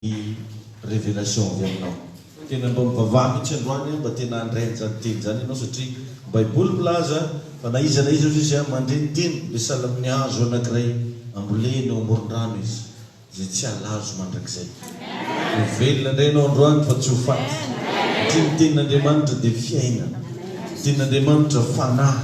ny révélation avy aminao. Tena mba mivavaha mihitsy androany an, mba tena handray an'izany teny izany ianao satria baiboly milaza fa na iza na iza hozy izy mandre ny teny dia sahala amin'ny hazo anankiray ambolena eo amoron-drano izy izay tsy halazo mandrakizay. Ho velona indray ianao androany fa tsy ho faty satria ny tenin'Andriamanitra dia fiainana, ny tenin'Andriamanitra fanahy.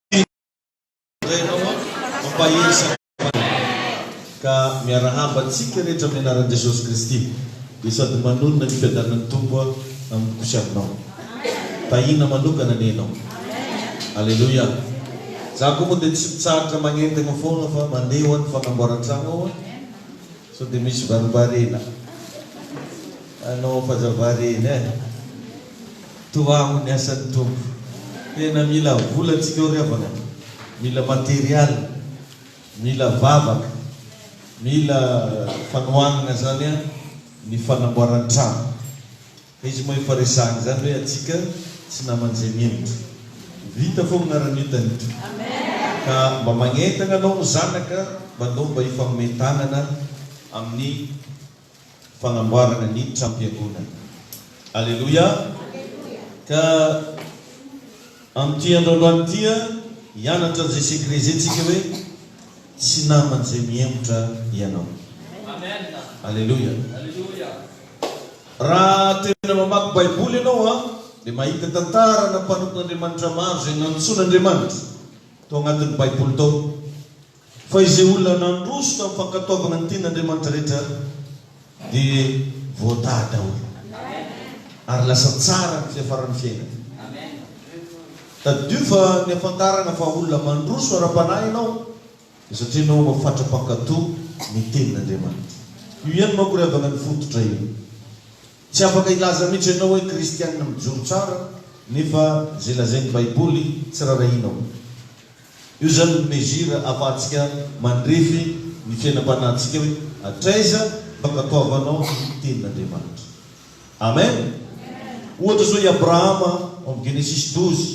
Ka miarahaba antsika rehetra amin'ny anaran'i Jesosy Kristy dia sady manonona ny fiadanan'ny Tompo amiko sy aminao. Tahiana manokana anie ianao. Aleloia. Za koa moa dia tsy mitsahatra magnentagna foagna fa mandeha ho any fanamboaran-tragno aho. Sao dia misy varimbariana anao fazava reny eh! Toa amo ny asan'ny Tompo. Tena mila vola tsika ao ry havana, mila material, mila vavaka, mila fanohanana zany an ny fanamboaran-trano. Izy moa efa resahina izany hoe antsika tsy naman'izay militra. Vita fogna raha ny hitan'ito. Ka mba magnentagna anao ny zanaka mba ndao mba hifagnome tagnana amin'ny fagnamboaragna ny tram-piangonana. Aleloia! Ka amin'ity andro androany ity a, hianatra an'izay secret izay tsika hoe tsy naman'izay mihemotra ianao. Aleloia! Raha tena mamaky Baiboly ianao an, dia mahita tantarana mpanompon'Andriamanitra maro izay nantsoin'Andriamanitra tao anatin'ny Baiboly tao. Fa izay olona nandroso tamin'ny fankatoavana ny tenin'Andriamanitra rehetra dia voatahy daholo ary lasa tsara ny fiafaran'ny fiainany. Tadidio fa ny hahafantarana fa olona mandroso ara-panahy ianao Satria enao hono fatra-pankato ny tenin'Andriamanitra. Io ihany manko ry havana ny fototra io. Tsy afaka hilaza mihitsy enao hoe kristianina mijoro tsara nefa izay lazain'ny baiboly tsy rarahianao. Io izany no mesure afahantsika mandrefy ny fiainam-panahintsika hoe hatraiza mba katoavanao ny tenin'Andriamanitra. Amen! Ohatra izao i Abrahama ao amin'ny Genesisy douze.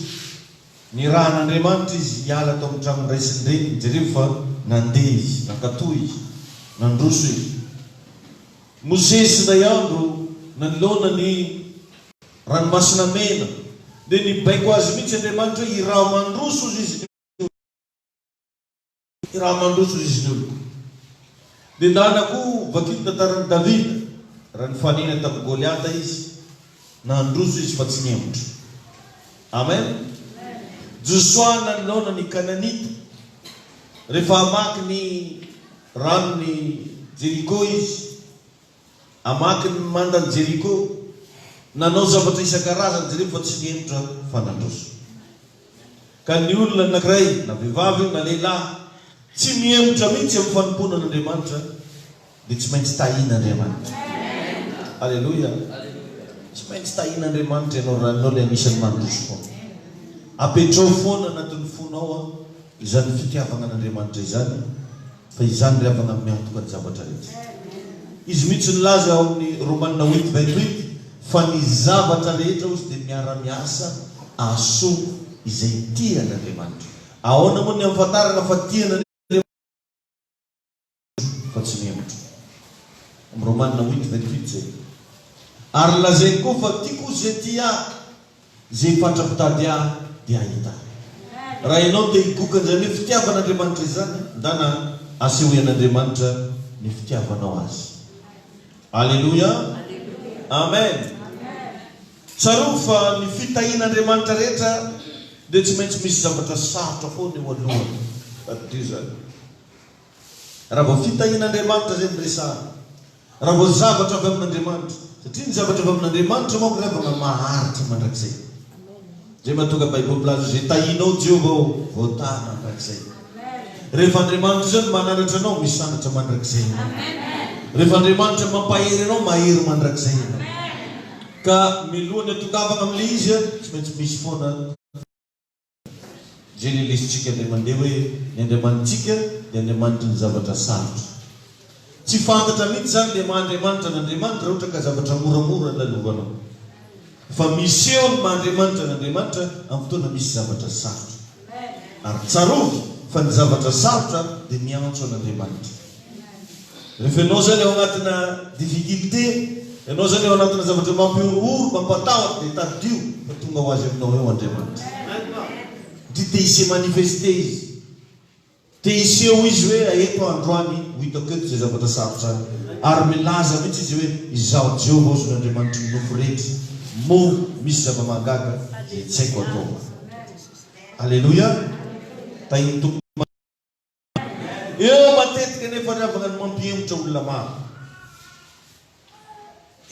Nirahan'Andriamanitra izy hiala tao amin'ny tranon'ny ray sy ny reniny. Jereo fa nandeha izy, nankatò izy, nandroso izy. Mosesy indray andro nanoloana ny Ranomasina Mena, dia nibaiko azy mihitsy Andriamanitra hoe hiraho mandroso hozy izy. Ny raha mandroso riziny oloko. Ny làlako ho vakio ny tantaran'i Davida, raha nifanena tamin'i Goliata izy, nandroso izy fa tsy nihemotra. Amen! Josoa nanoloana ny Kananita, rehefa hamaky ny ranon'i Jeriko izy, Hamaky ny mandan'i Jeriko. Nanao zavatra isan-karazany izy ireo fa tsy nihemotra fa nandroso. Ka ny olona anankiray, na vehivavy io na lehilahy, tsy mihemotra mihitsy amin'ny fanompoana an'Andriamanitra, dia tsy maintsy tahin'Andriamanitra. Aleloia! Tsy maintsy tahin'Andriamanitra ianao raha ianao ilay anisan'ny mandroso foana. Apetraho foana anatin'ny fonao an! Izany fitiavagna an'Andriamanitra izany, fa izany ry havagna miantoka ny zavatra rehetra. Izy mihitsy nilaza ao amin'ny Romana huit vingt huit fa ny zavatra rehetra hozy dia miara-miasa ahasoa izay tia an'Andriamanitra. Ahoana moa ny ahafantaragna fa tia an'Andriamanitra isika? Tro fa tsy mihevitra. Am Romana huit vingt huit zay. Ary lazainy koa fa tiako ze tia ahy, ze fatra mpitady ahy de hahita ahy. Raha ianao te higoka an'izany hoe fitiavan'Andriamanitra izany, ndana asehoy an'Andriamanitra ny fitiavanao Azy. Aleloia! Amen! Tsarovy fa ny fitahian'Andriamanitra rehetra dia tsy maintsy misy zavatra sarotra foana eo alohany. Addio izany. Raha vao fitahian'Andriamanitra izay no resahana, raha vao zavatra avy amin'Andriamanitra, satria ny zavatra avy amin'Andriamanitra manko ry havana maharitra mandrakizay. Izay mahatonga Baiboly milaza hoe, izay tahianao Jehovah ô, voatahy mandrakizay. Rehefa Andriamanitra izao no mananatra anao, misanatra mandrakizay ianao. Rehefa Andriamanitra mampahery anao, mahery mandrakizay ianao. Ka mialohan'ny hatongavana amin'ilay izy, tsy maintsy misy foana. Genelisitsika indray mandeha hoe ny Andriamanitsika dia Andriamanitry ny zavatra sarotra. Tsy fantatra mihitsy izany ilay maha Andriamanitra an'Andriamanitra raha ohatra ka zavatra moramora no lalovanao. Fa miseho ny maha Andriamanitra an'Andriamanitra amin'ny fotoana misy zavatra sarotra. Ary tsarovy fa ny zavatra sarotra dia miantso an'Andriamanitra. Rehefa ianao izany ao anatina difficulté, ianao izany ao anatina zavatra mampihorohoro, mampatahotra dia tadidio fa tonga ho azy aminao eo Andriamanitra. Satria te hise manifester Izy. Te hiseho Izy hoe eto aho androany, ho hitako eto izay zavatra sarotra ahy. Ary milaza mihitsy Izy hoe izaho Jehovah Ozy no Andriamanitry ny nofo rehetra, moa misy zava-mahagaga izay tsy haiko atao. Aleloia! Tahin'ny Tompo. Eo matetika anefa ry havana no mampihemotra olona maro.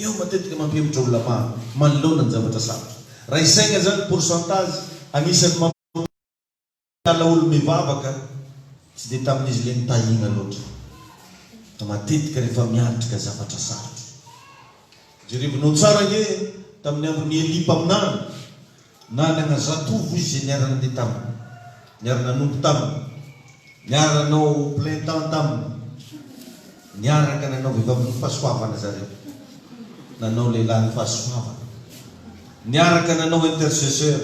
Eo matetika mampihemotra olona maro manoloana ny zavatra sarotra. Raha isaina izany ny pourcentage anisan'ny mampiala olona hivavaka, tsy dia tamin'izy ireny tahiana loatra. Fa matetika rehefa miatrika zavatra sarotra. Jerevinao tsara ange tamin'ny andron'i Elia mpaminany, Nanana zatovo izy izay niara-nandeha taminy, niara-nanompo taminy, niara-nanao plein temps taminy, niaraka nanao vehivavin'ny fahasoavana zareo, nanao lehilahin'ny fahasoavana, niaraka nanao intercesseur,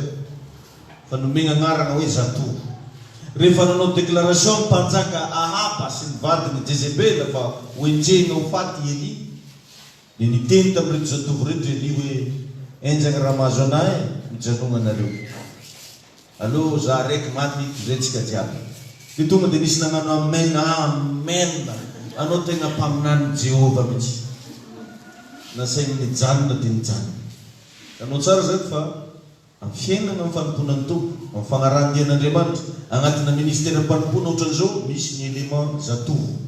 fa nomena anarana hoe zatovo. Rehefa nanao déclaration ny mpanjaka Ahaba sy ny vadiny Jezebela fa hoenjehina ho faty i Elia, Dia niteny tamin'ireto zatovo ireto Elia hoe, Enjana raha mahazo anà e! Mijanogna nareo. Aleo zà raiky maty hitondrentsika jiaby. Dia tonga dia nisy nagnano amen. Amen! Anao tegna mpaminanin'i Jehovah mihitsy. Nasainy nijanona dia nijanona. Hitanao tsara izany fa amin'ny fiainana amin'ny fanompoana ny Tompo, amin'ny fagnarahan-dian'Andriamanitra, agnatina ministeram-panompoana ohatran'izao, misy ny élément zatovo.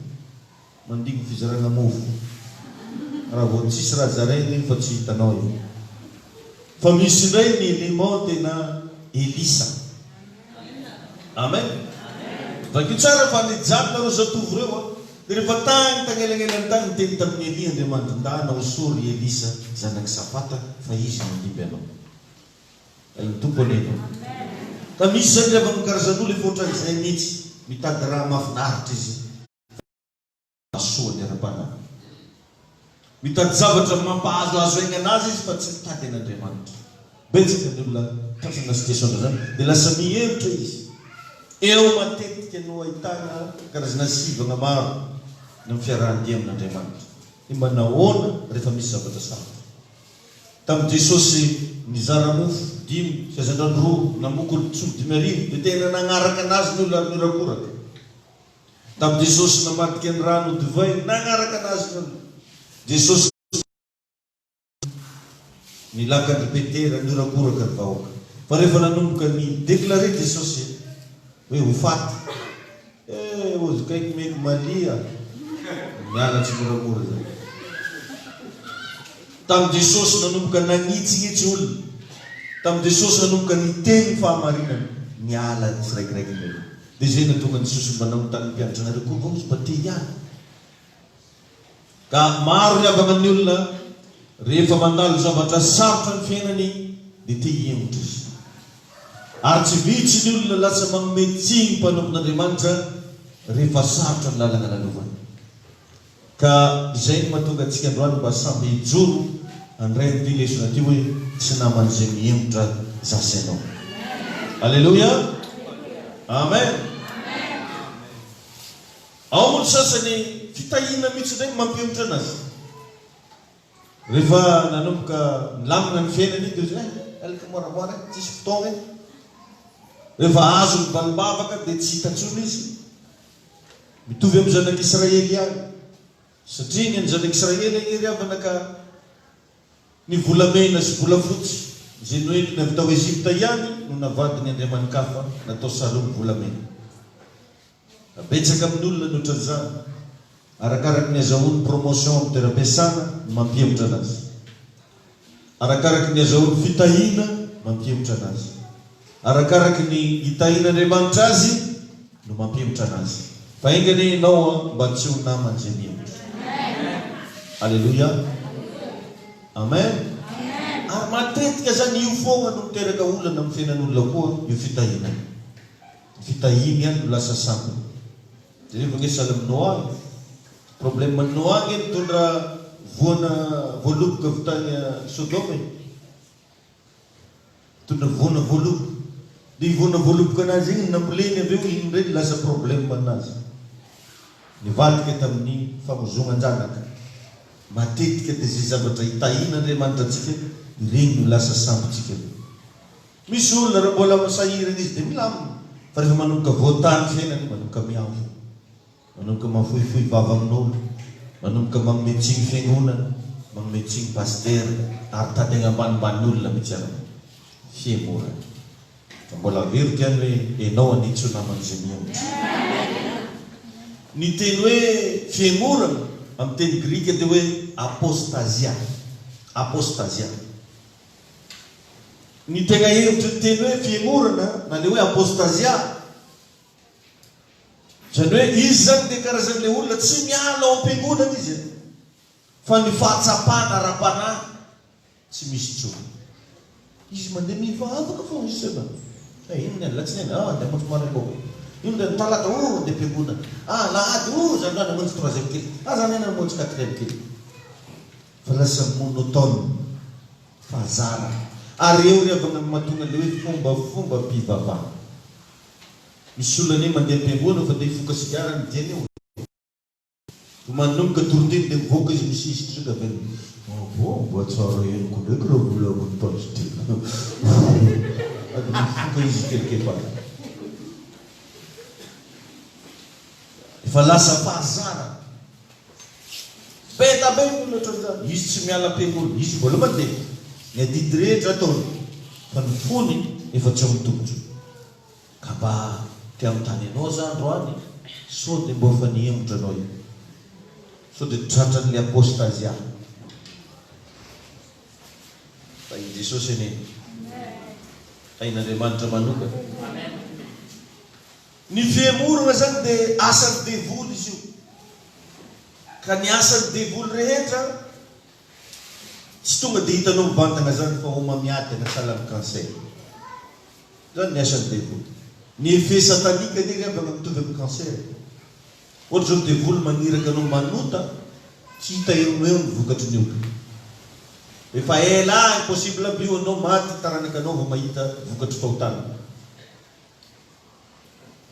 Mandihy ny fizarana mofo raha vao tsisy raha zaraina iny fa tsy hitanao e! Fa misy indray ny élément tena Elisa. Amen! Vakio tsara fa nijanona ireo zatovo ireo an! Dia rehefa tany tagnelanelany tany niteny tamin'i Elia Andriamanitra, Ndà anao soa ry Elisa zanak'i Safata fa izy no handimby anao. Hay ny Tompo anie e! Ka misy izany ry havana karazan'olo efa ohatran'izay mihitsy, mitady raha mahafinaritra izy. Fahasoany ara-panahy. Mitady zavatra mampahazo azo haingana azy izy fa tsy mitady an'Andriamanitra. Betsaka ny olona tratra amina situation ohatran'izany dia lasa mihevitra izy. Eo matetika no ahitana karazana sivana maro ny amin'ny fiarahan-dia amin'Andriamanitra. Dia mba nahoana rehefa misy zavatra sarotra? Tamin'i Jesosy nizara mofo dimy sy hazandrano roa namoky olon-tsoa dimy arivo dia tena nagnaraka anazy ny olona ary niorakoraka. Tamin'i Jesosy namadika ny rano ho divay nagnaraka anazy ny olona. Jesosy ny lakan'i Petera nihorakoraka ny vahoaka. Fa rehefa nanomboka ni declarer Jesosy hoe ho faty, eh ozy kaiky meko malia mianatry moramora zany. Tamin'i Jesosy nanomboka nagnitsinitsy olona. Tamin'i Jesosy nanomboka niteny ny fahamarinana, niala ny tsiraikiraiky ny olona. Dia zay natonga ny sosombana amin'ny tanim-pianatranareo koa angao izy mba te hiala. Ka maro ry havana ny olona rehefa mandalo zavatra sarotra ny fiainany dia te hihemotra izy. Ary tsy vitsy ny olona lasa manome tsiny mpanompon'Andriamanitra rehefa sarotra ny lalana lalovany. Ka izay no mahatonga antsika androany mba samby hijoro handray an'ity lesona ity hoe, Tsy naman'ny izay mihemotra za sy ianao. Aleloia! Amen! Ao moa ny sasany fitahiana mihitsy indray ny mampihemotra anazy. Rehefa nanomboka nilamina ny fiainany iny dia hoe, eh, alika moramora eh, tsisy fotoana eh. Rehefa azony valimbavaka dia tsy hita intsony izy. mitovy amin'ny zanak'Israely ihany, satria ny an'ny zanak'Israely anie ry havana ka ny volamena sy volafotsy izay noentiny avy tao Egypta ihany no navadiny andriamani-kafa natao sarony volamena. Fa betsaka amin'ny olona ny otran'izany, arakaraky ny azahoany promotion amin'ny toeram-piasana no mampihemotra anazy. Arakaraka ny azahoany fitahiana mampihemotra anazy. Arakaraka ny itahian'Andriamanitra azy no mampihemotra anazy. Fa enga anie ianao an mba tsy ho naman'izay mihemotra. Aleloia. Amen. Ary matetika zany io foagna no miteraka olana amin'ny fiainan'olona koa io fitahiana io. Ny fitahiany ihany no lasa sampiny. Levonisa any aminao any. Problème an'i Noa ange nitondra voana voaloboka avy tany Sodoma e. Nitondra voana voaloboka. Dia io voana voaloboka anazy iny namboleny avy eo iny indray no lasa problème anazy. Nivadika tamin'ny famozonan-janaka. Matetika dia izay zavatra hitahian'Andriamanitra antsika ireny no lasa sambontsika. Misy olona raha mbola misahirana izy dia milamina fa rehefa manomboka voatany ny fiainany iny manomboka miavo, manomboka mahafohifohy vava amin'olo, manomboka manome tsiny fiangonana, manome tsiny pasitera ary tady any ambanimbany olona mihitsy ary ny fihemorany. Fa mbola averiko ihany hoe enao anie tsy ho naman'izay mihemotra. Ny teny hoe fihemorana amin'ny teny grika dia hoe apostasia, apostasia. Ny tegna hevitry ny teny hoe fihemorana na le hoe apostasia, zany hoe izy zany le karazan'le olona tsy miala ao am-piangonana izy an! fa ny fahatsapana ara-panahy tsy misy intsony. Izy mandeha mivavaka fôgna izy zay mba eh, ino ndray alatsinainy, ah andeha hamonjy maraim-baovao, ino ndray ny talata, oh andeha am-piangonana, ah alahady, oh zandriny hamonjy troisième culte, ah zandriny hamonjy quatrième culte. Phrase monotone fa zara. Ary eo ry havana no mahatonga ilay hoe fombafombam-pivavahana. Misy olona anie mandeha am-piangonana fa te hifoka sigara ny diany eo e! Vao manomboka toriteny dia mivoaka izy misisika sao dia avy eo Mba vao mba tsara henoko ndraiky raha volavin'ny pasitera a! Sady mifoka izy kelikely-bava. Efa lasa mpahazara. Be da be ny olona ohatran'izany. Izy tsy miala am-piangonana. Izy voalohany dia ny adidy rehetra ataony, fa ny fony efa tsy ao amin'ny Tompo. Ka mba te hanontany anao za androany e, sao dia mba efa nihemotra anao io? Sao dia tratran'ilay apostasia? Tahin'i Jesosy anie! Tahin'Andriamanitra manokana! Ny fihemorana zany de asan'ny devoly izy io ka ny asan'ny devoly rehetra tsy tonga de hitanao mivantagna zany fa homamiadagna sahala amin'ny cancer zany ny asan'ny devoly ny effet satanique anie ry havagna mitovy amin'ny cancer ohatra zao devoly magniraka anao manota tsy hita eo no eo ny vokatry ny ota efa ela impossible aby io anao maty ny taranakanao vao mahita vokatry fahotana.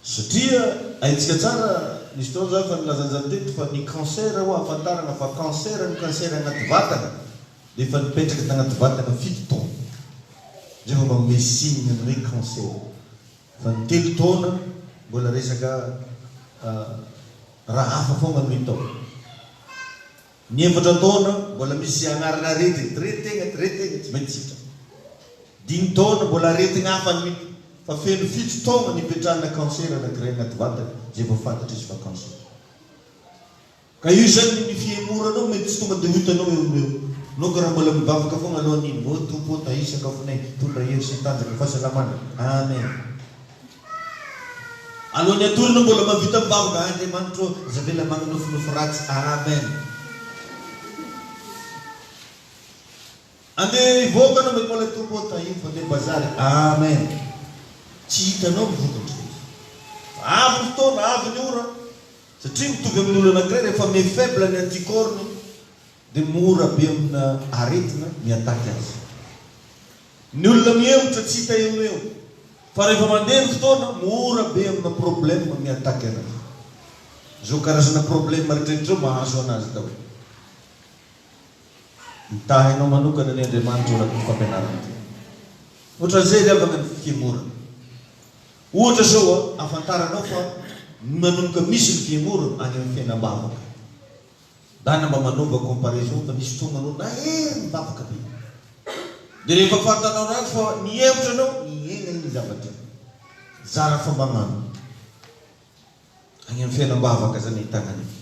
Satria haintsika tsara, nisy fotoana zah efa nilazan'izany teto fa ny cancer ho'a hahafantarana fa cancer ny cancer agnaty vatana dia efa nipetraka tagnaty vatana fito taona zay vao manome signe ny hoe cancer fa ny telo taona mbola resaka raha hafa foagna no hita ao. Ny efatra taona mbola misy ianarana aretigny dre tegna dre tegna tsy maintsy sitrana. Dimy taona mbola aretigny hafa no hita fa feno fito taona no ipetrahana cancer anakiray agnaty vatagny zay vao fantatra izy fa cancer. Ka io zany ny fihemoranao mety tsy tonga de ho hitanao eo no eo. Naoka raha mbola mivavaka fogna alohan'igny, ô Tompo ô tahio sakafonay, tondra hery sy tanjaka, fahasalamana. Amen. Alohan'ny hatorina mbola mahavita mivavaka Andriamanitro ô aza avela magninofinofy ratsy Amen Ande hivoaka anao mety mbola Tompo ô tahiny fa nde bazary Amen Tsy hitanao ny vokatry ny efa fa avy ny fotoana avy ny ora satria mitovy amin'ny olona anankiray rehefa me faible ny anticorps ny dia mora be amina aretina ny ataky azy. Ny olona mihemotra tsy hita eo no eo fa rehefa mandeha ny fotoana mora be amina problème mi ataky anazy. Izao karazana problème retraretra izao mahazo anazy daholo. Mitahy anao manokana anie Andriamanitra ao anatin'ity fampianarana ity. Ohatran'izay ry havana ny fihemorana. Ohatra izao ahafantaranao fa manomboka misy ny fihemorana any amin'ny fiainam-bavaka. Dana mba manaova comparaison fa nisy fotoagna anao nahery nivavaka be de rehefa fantanao ratsy fa nihemotra anao niaigna igny zavatra zara fa mba magnano agny am fiainambavaka zany ahitagna an'igny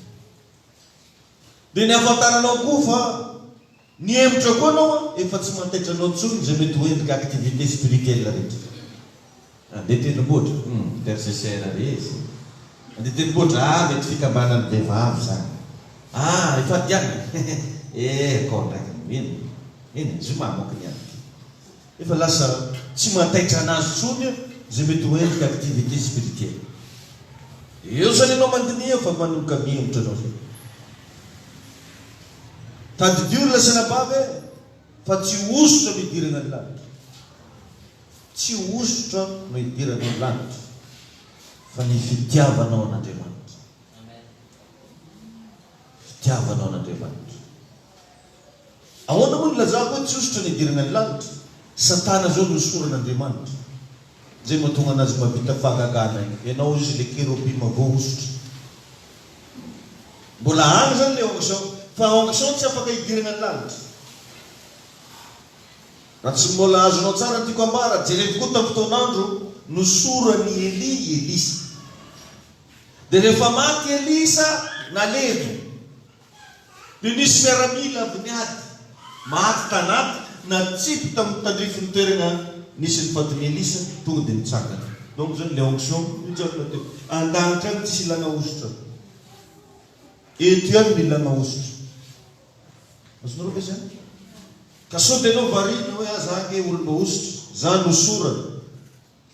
de ny afantaranao koa fa Nihemotra koa anao a, efa tsy mantaitra anao tsony zay mety ho endrika activité spirituelle rehetra. Andeha tendrombohitra? Hum, intercesseur re izy. Andeha tendrombohitra? Ah, mety fikambanan'ny vehivavy zany. Ah, ifadianana? Hehe, eh, akao ndraiky ny mino. Eny e, zoma manko ny ahy ty. Efa lasa tsy mantaitra anazy tsony zay mety ho endrika activité spirituelle. Eo zany ianao mandiniha fa manomboka mihemotra anao zay. Tadidio ry lasanabavy eh, fa tsy hosotra no idirana ny lanitra. Tsy hosotra no idirana ny lanitra, fa ny fitiavanao an'Andriamanitra. Fitiavanao an'Andriamanitra. Ahoana moa no ilazako hoe tsy hosotra no idirana ny lanitra? Satana izao no hosoran'Andriamanitra. Zay matonga anazy mavita fahagagana io enao izy le kerobima voahosotra mbola agny zany le onction fa onction tsy afaka idiragna ny lagnitra ra tsy mbola azonao tsara ny tiko ambara jerevo ko tam fotoanandro nosoran i Elia i Elisa de refa maty Elisa nalevo Dia nisy miaramila avy niady, maty tanaty natsipy tamin'ny tandrifin'ny toerana nisy ny fatin'i Elisa, tonga dia nitsangana. Donc izany ilay onction nijanona teo. An-danitra any tsisy ilana hosotra. Eto ihany no ilana hosotra. Azonareo ve izany? Ka sao dia ianao variana hoe aza ahy ange olona hosotra. Izany no sorany.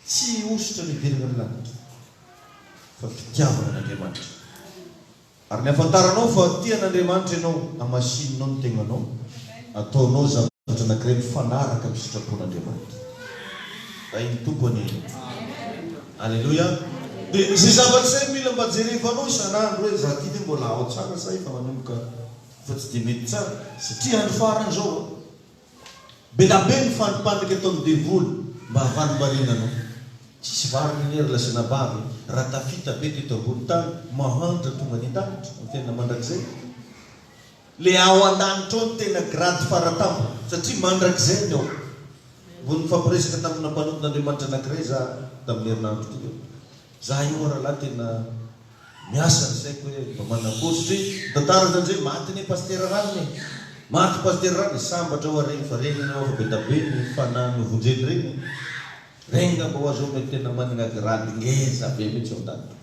Tsy hosotra any ivelan'ny lanitra, fa fitiavana an'Andriamanitra. Ary ny hafantaranao fa tia an'Andriamanitra ianao, hamasininao ny tegnanao, ataonao zavatra anankiray mifanaraka amin'ny sitrapon'Andriamanitra. Rain'ny Tompo anie ianao. Aleloia. Dia izay zavatra izay mila mba jerevanao isan'andro hoe, izaho ity ve mbola ao tsara sa efa manomboka efa tsy dia mety tsara, satria andro farany izao an. Be da be ny fandripandrika ataon'ny devoly mba havalomariana anao. Tsisy vary minery lazaina bavy e! Raha tafita be teto ambony tany, mahantra tonga any an-danitra, amin'ny fiainana mandrakizay. Le ao an-danitra ao no tena grady fara tampony, satria mandrakizay ny ao. Mbola nifampiresaka tamina mpanompon'Andriamanitra anankiray za tamin'ny herinandro teo. Za io ralahy tena miasa ny saiko hoe mba manakory satria ny tantara zany zay maty anie pasitera rariny e! Maty pasitera rariny sambatra ho'a regny fa regny anie ho'afa bedabe ny fanahy novonjeny regny e! Regny ngamba ho'a zao mety tena managna grade ngeza be mitsy ao ndaty.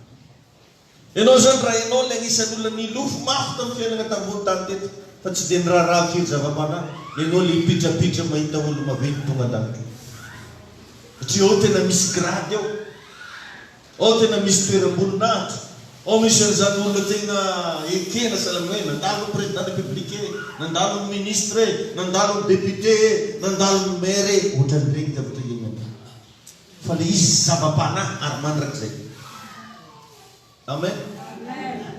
Enao zany raha enao le agnisany olona nilofo mafy tam fiainagna tambony tany teto fa tsy de niraharaha firy zavapanahy, enao le mipitrapitra mahita olo maventy tonga ndaty. Satria ao tena misy grade ao. Ao tena misy toeram-boninahitra. Ao misy an'izany olona tena ekena sahala amin'ny hoe nandalin'ny Président de la République e, nandalin'ny Ministre e, nandalin'ny Député e, nandalin'ny Maire e, ohatran'ireny zavatra ireny aby. Fa ilay izy zava-panahy ary mandrakizay. Amen.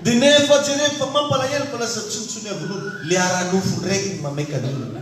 Dia nefa jereo fa mampalahelo fa lasa tsinontsinoavin' olona. Ilay ara-nofo indray no mameky an'olona.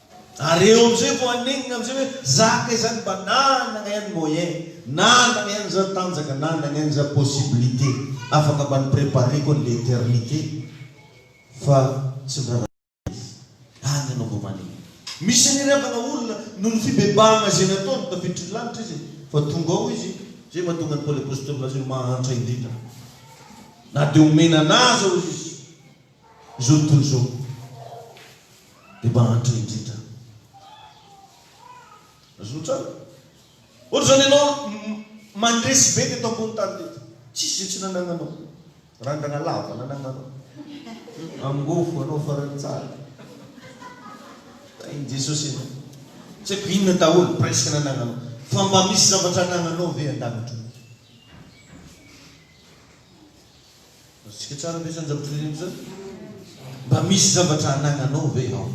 Ary eo amizay vao hanenina amizay hoe za kay zany mba nanagna ihany moyen, nanagna ihany za tanjaka, nanagna ihany za possibilité, afaka mba ni-préparer-ko anle eternité fa tsy niraharaha izy. Any anao vao manenina. Misy aniriavagna olona noho ny fibebahagna ze nataony tafiditry lanitra izy fa tonga ao izy zay mahatonga an'i Paoly Apostôly milaza hoe mahantra indrindra na de omena anà aza ozy izy. Izao tontolo izao dia mahantra indrindra. Azonao tsara? Ohatr'izany ianao mandresy be teto ambony tany teto. Tsisy izay tsy nanagnanao. Randrana lava nanagnanao. Angofo anao farany tsara. Tahin'i Jesosy ianao. Tsy haiko inona daholo presque nanagnanao. Fa mba misy zavatra anagnanao ve an-danitra ao? Azontsika tsara ve izany zavatra ireny izany? Mba misy zavatra anagnanao ve ao?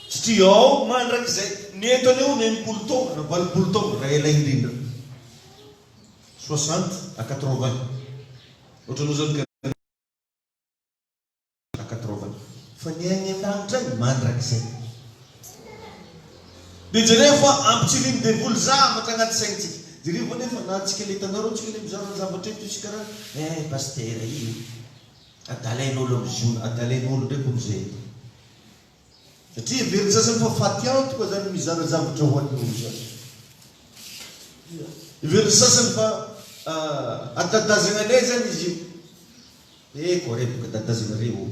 Satria ao mandrakizay, ny eto anie hono enimpolo taona na valopolo taona raha ela indrindra. Soixante à quatre-vingts. Ohatranao izany ka. Takatrovana fa ny any an-danitra any mandrakizay. Dia jereo fa ampitsirian'ny devoly zavatra anaty saintsika. Jereo ve anefa na antsika ilay tanora antsika ilay mizara ny zavatra eto isika ra eh pasitera io adalain'olo amin'ny zona adalain'olo indray koa mizay eto. satria heverin'ny sasany fa faty antoka izany ny mizara zavatra ho an'ny loza. Heverin'ny sasany fa ah, atadazana anay izany izy io. Eh, ko re, boka atadazana re o.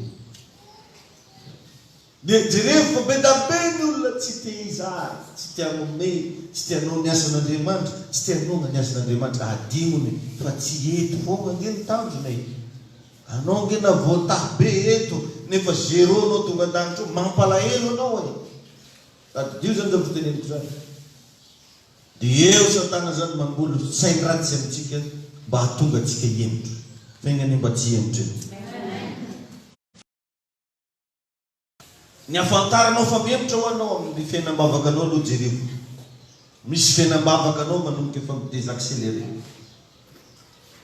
Dia jerevo fa be da be ny olona tsy te hizara, tsy te hanome, tsy te hanao ny asan'Andriamanitra, tsy te hanohana ny asan'Andriamanitra. Adinony fa tsy eto foana ange ny tanjona e. Anao nge na voatahy be eto nefa zero anao tonga an-danitra ao, mampalahelo anao e! Tadidio zany zany fiteneniko zany. Dia eo satana zany mamboly sain ratsy amintsika mba hahatonga antsika hihemotra. Fa enga anie mba tsy hihemotra e! Ny hafantaranao fa mihemotra ho anao amin'ny fiainam-bavakanao aloha jereo. Misy fiainam-bavaka anao manomboka efa mi-desaccelerer.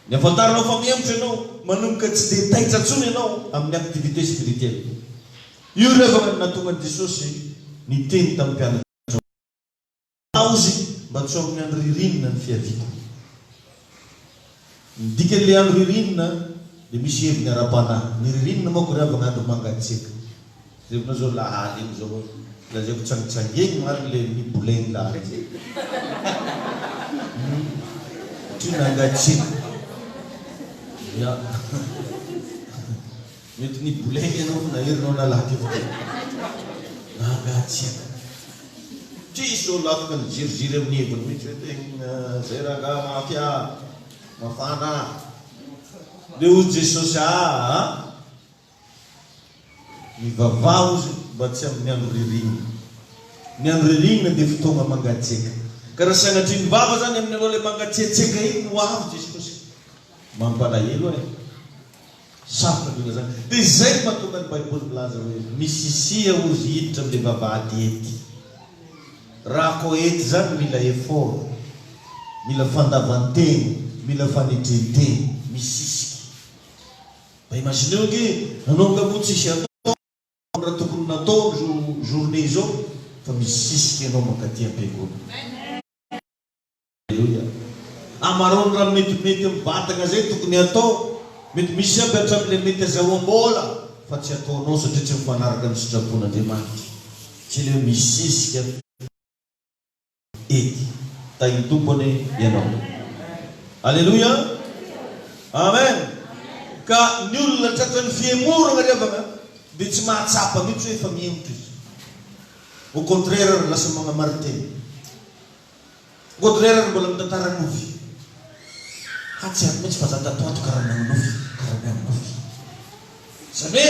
Ny hafantaranao fa mihemotra ianao manomboka tsy dia taitra intsony ianao amin'ny activité spirituelle. Io revana no nahatonga an'i Jesosy niteny tamin'ny mpianatrao. Paozy mba tsy ho amin'ny andro ririnina ny fiaviako. Ny dikan'ilay andro ririnina dia misy heviny ara-panahy. Ny ririnina manko ry havana andro mangatsiaka. Jerevana izao lahalim izao hoe lazaiko tsangitsangeny marina ilay miboleny lahalim. Hum ohatry ny nangatsiaka. Ya. Mety niboleng ianao fa naherinao nalaky fo na angatsiaka. Tsia izy sao lafoka niziriziry amin'ny heviny mihitsy hoe tegna zay rangah mafy ah! Mafana ah! Ndeha hoy Jesosy aa! Mivavaha hozy mba tsy amin'ny andro ririnina. Ny andro ririnina dia fotoagna mangatsiaka. Ka raha sanatria nivava zany amin'ianao ilay mangatsiatsiaka iny hoavy Jesosy. Mampalahelo eh! Sarotra ny olona izany. Dia izay no mahatonga ny Baiboly milaza hoe, Misisia hozy hiditra amin'ilay vavahady hety. Raha koa hety izany mila effort, mila fandavan-tena, mila fanetren-tena, misisika. Mba imagineo ange, anao angaha moa tsisy atao ny raha tokony natao amin'izao journée izao? Fa misisika ianao mankaty am-piangonana. Aleloia. Amarao ny raha metimety amin'ny vatagna izay tokony hatao. Mety misy aby hatramin'ilay mety azahoam-bola fa tsy ataonao satria tsy mifanaraka amin'ny sitrapon'Andriamanitra. Tsy ilay hoe misy zezika ety. Tahin'ny Tompo anie ianao. Aleloia. Amen. Ka ny olona tratran'ny fihemoragna ry havagna dia tsy mahatsapa mihitsy hoe efa mihemotra izy. Au contraire ary lasa magnamarin-tena. Baudelaire no mbola mitantara ny nofy fa tsy haiko mihitsy fa za tato ho ato karaha manao nofy karaha mihaino nofy zany hoe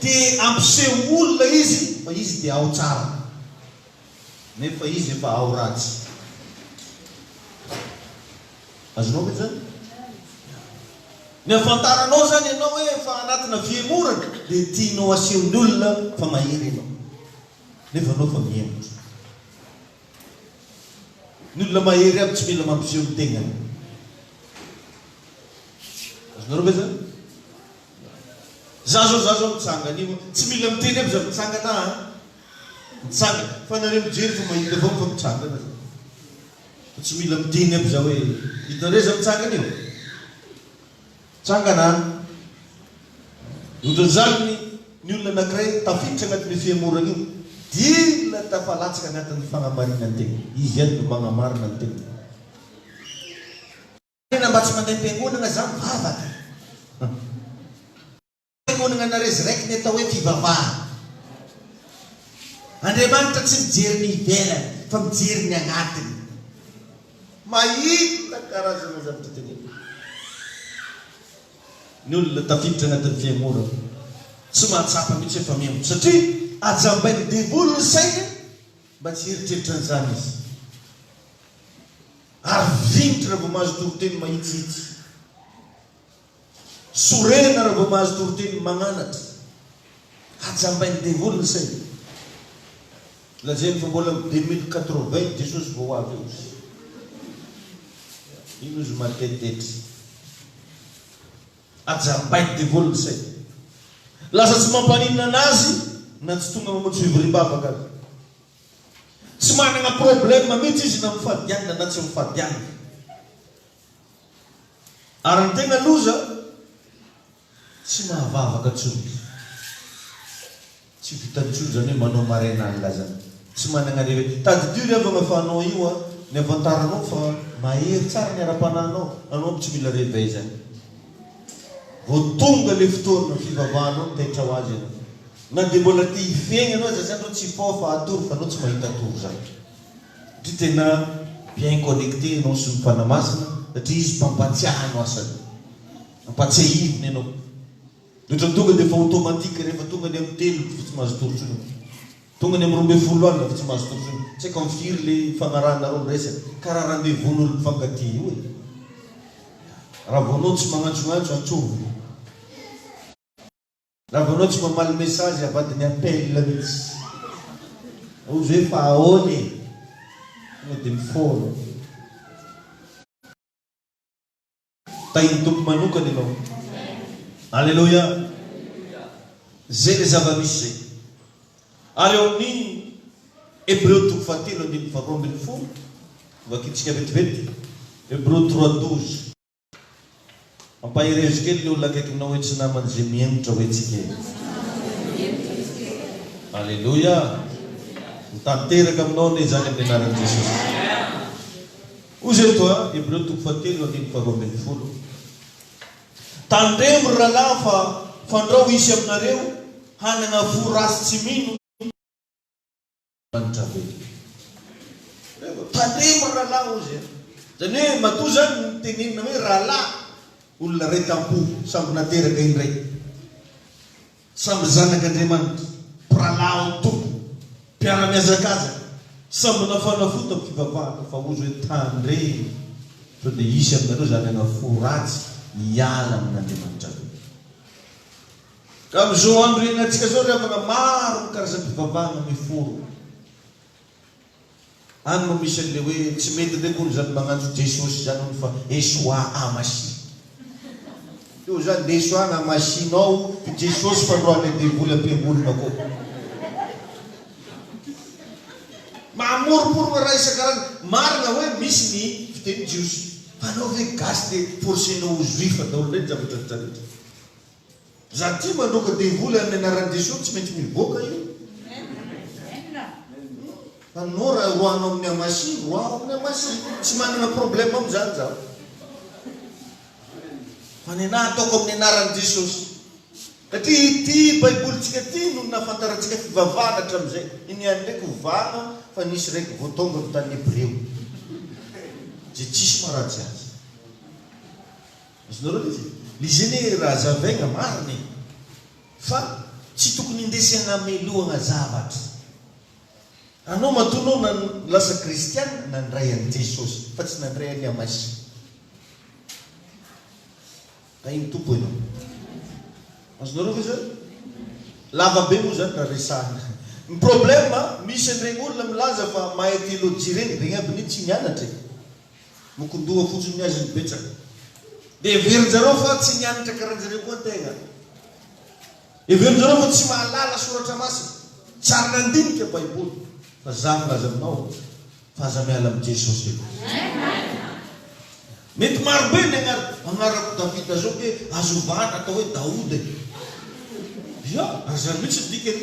te hampiseho olona izy fa izy te ao tsara nefa izy efa ao ratsy azonao ve zany? ny afantaranao zany ianao hoe efa anatina fihemorana dia tianao asehon'ny olona fa mahery ianao nefa anao efa mihemora Ny olona mahery aby tsy mila mampiseho ny tegnany. Azonareo ve zany? Za zao za zao mitsanga anio a. Tsy mila miteny aby za mitsangana a. Mitsangana. Fa nareo mijery fa mahita foana fa mitsangana za. Fa tsy mila miteny aby za hoe hitanareo za mitsangana io? Trangana ohatran'izany ny olona anankiray tafiditra anatin'io fihemorana io dia tafalatsaka anatin'ny fanamarinan-tena. Izy ihany no manamarina ny tenany. Tena mba tsy mandeha am-piangonana za mivavaka. Fiangonagna na rezireky ny atao hoe fivavahana. Andriamanitra tsy mijery ny ivelany fa mijery ny agnatiny. Mahita karazana zavatra tena be. Ny olona tafiditra agnatin'ny fiangonagna tsy mahatsapa mihitsy hoe fa miango satria ajambain'ny devoly ny sainy mba tsy hieritreritra an'izany izy. Ary vinitra raha vao mahazo toriteny mahitsihitsy. Sorena raha vao mahazo toriteny magnanatra. Hajambain'ny devoly ny sainy. Lazainy fa mbola am deux mille quatre vingt Jesosy vao ho avy eo. Iny ozy matetety. Ajambain'ny devoly ny sainy. Lasa tsy mampaninona anazy na tsy tonga mamonjy fivoriam-bavaka aza. Tsy managna problème mihitsy izy na mifadianina na tsy mifadianina. Ary ny tena loza, tsy mahavavaka intsony izy. Tsy vitany intsony izany hoe manao maraina alina izany. Tsy managna réveil. Tadidio ry havana fa anao io an, ny havantaranao fa mahery tsara ny ara-panahinao, anao aby tsy mila réveil izany. Vao tonga ilay fotoana fivavahanao no taitra ho azy ianao. Na dia mbola te hifehy anao aza izany anao tsy hifaofa hatory fa anao tsy mahita tory izany. Satria tena bien connecter ianao sy ny Mpanamasina satria Izy mpampatsiahy no asany. Ampatsiahivina ianao. Dia ohatran'ny tonga dia efa automatique rehefa tonga ny amin'ny telo dia efa tsy mahazo tory intsony ianao. Tonga ny amin'ny roa ambin'ny folo alina efa tsy mahazo tory intsony. Tsy haiko amin'ny firy ilay ifanarahanareo ny resaka. Karaha rendez-vous n'olona mifankatia io e. Raha vao anao tsy magnantsognantso, antsovy. Raha vao anao tsy mamaly message avadiny appel mitsy. Ozy hoe fa ahoana e? Tonga dia mifono. Tahin'ny Tompo manokana ianao. Aleloia. Zay le zava-misy zay. Ary ao amin'ny Hebreo toko fahatelo andininy faharoa ambin'ny folo, vakintsika vetivety, Hebreo trois douze. Mampaherezo kely le olona akaikinao hoe tsy namany ze mihemotra hoe tsy kely. Aleloia! Ho tanteraka aminao anie izany amin'ny anaran'i Jesosy. Ozy eto a, Hebreo toko fahatelo andininy faharoa ambin'ny folo. Tandremo ry rahalahy fa fandrao hisy aminareo hanagna fo ratsy tsy mino. Antavelika. Tandremo ry rahalahy hozy a! Izany hoe matoa izany ny tenenina hoe rahalahy, olona iray tam-po, sambo nateraka indray, sambo zanak'Andriamanitra, mpirahalahy ao amin'ny Tompo, mpiara-mihazakazaka, sambo nafanafota amin'ny fivavahana, fa hozy hoe tandremo, sao dia hisy aminareo izany ana fo ratsy hiala amin'Andriamanitra be. Ka amin'izao andro iainantsika izao ry havana, maro ny karazam-pivavahana miforona. Any no misy an'ilay hoe, tsy mety indray akory izany magnantso Jesosy izany hono fa Esoa a Masihy. Io izany na Esoa na Masihy nao i Jesosy fandroahan'ilay devoly am-piangonana ko. Mamoroporona raha isan-karazany. Marina hoe misy ny fiteny jiosy. Fa anao ve gasy dia forcenao ho juif daholo indray ny zavatra rehetra rehetra. Za tia mandroaka devoly aminy anaran'i Jesosy tsy maintsy mivoaka io fa nao raha roahano aminy amasi roaho aminy amasi tsy manana problème amizany za fa ny anah ataoko aminy anaran'i Jesosy satria ity baibolintsika ity no nafantarantsika fivavahana hatramizay iny ihany ndraiky ho vahana fa nisy raiky vao tonga avy tany Hebreo ze tsisy maratsy azy Azonareo ve zay? Le Gene Razafaigna marina e! Fa tsy tokony indesy hagnamelohagna zavatra. Anao matoa anao na lasa kristiana nandray an'i Jesosy fa tsy nandray an'i Amasia. Tahin'ny Tompo ianao. Azonareo ve zany? Lava be moa zany raha resahana. Ny problème misy an'iregny olona milaza fa mahay théologie regny, regny aby anie tsy nianatra e! Mokon-doha fotsiny ny azy ny betsaka. Dia heverin-jareo fa tsy nianatra karan-jareo koa tegna. Heverin-jareo fa tsy mahalala soratra masina, tsy ary nandinika baiboly. Fa za milaza aminao fa aza miala amin'i Jesosy aloha. Mety maro be ny agnara, agnarako Davida zao ke azo ovana atao hoe Daoda e. Ia, ary zany mihitsy ny dikany.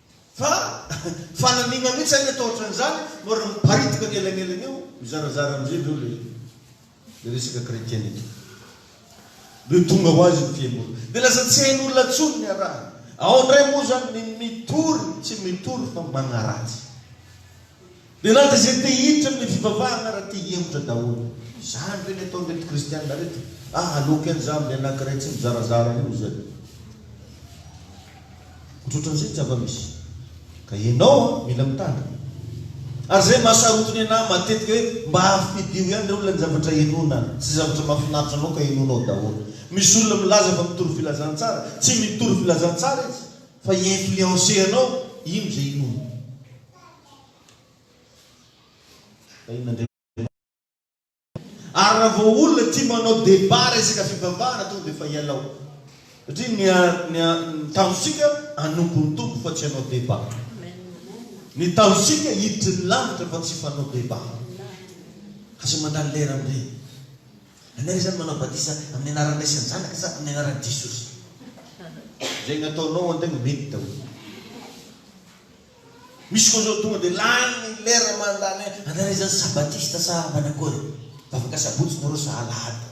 Fa fanamiana mihitsy anie atao otran'izany no ary miparitaka ny elanelana eo. Mizarazara amizay ndreo le le resaka chretianite de tonga ho azy ny fihemorana de lasa tsy hain'olona tsony ny araha ao ndray moa zany ny mitory tsy mitory fa magnaratsy. Dia na dia izay te hiditra amin'ny fivavahana ary te hihemotra daholo. Izany ve ny ataon'ireto kristiana ireto? Ah, aloky any za amin'ny anankiray tsy mizarazara io izany. Ohatrohatran'izay ny zava-misy. Ka ianao an, mila mitandrina. Ary izay maha-sarotiny anà matetika hoe mba ampidio ihany ireo ilay zavatra henoina sy izay zavatra mahafinaritra anao ka henoina ao daholo. Misy olona milaza fa mitory filazantsara. Tsy mitory filazantsara izy fa hi-influencer anao hino izay hinoiny. Ary raha vao olona tia manao débat resaka fivavahana tonga dia efa ialao. Satria ny ny ny tanjontsika hanompo ny Tompo fa tsy hanao débat. Ny tanjontsika hiditry ny lanitra fa tsy fanao débat. Aza mandany lera amin'ireny. Anay re zany manao batisa amin'ny anaran'ny Ray sy ny Zanaka sa amin'ny anaran'i Jesosy? Zegny ataonao antegna mety daholo. Misy koa zao tonga de lany ny lera mandany any. Angaha izany sabatista sa manakory? Vavaka sabotsy nareo sa alahady?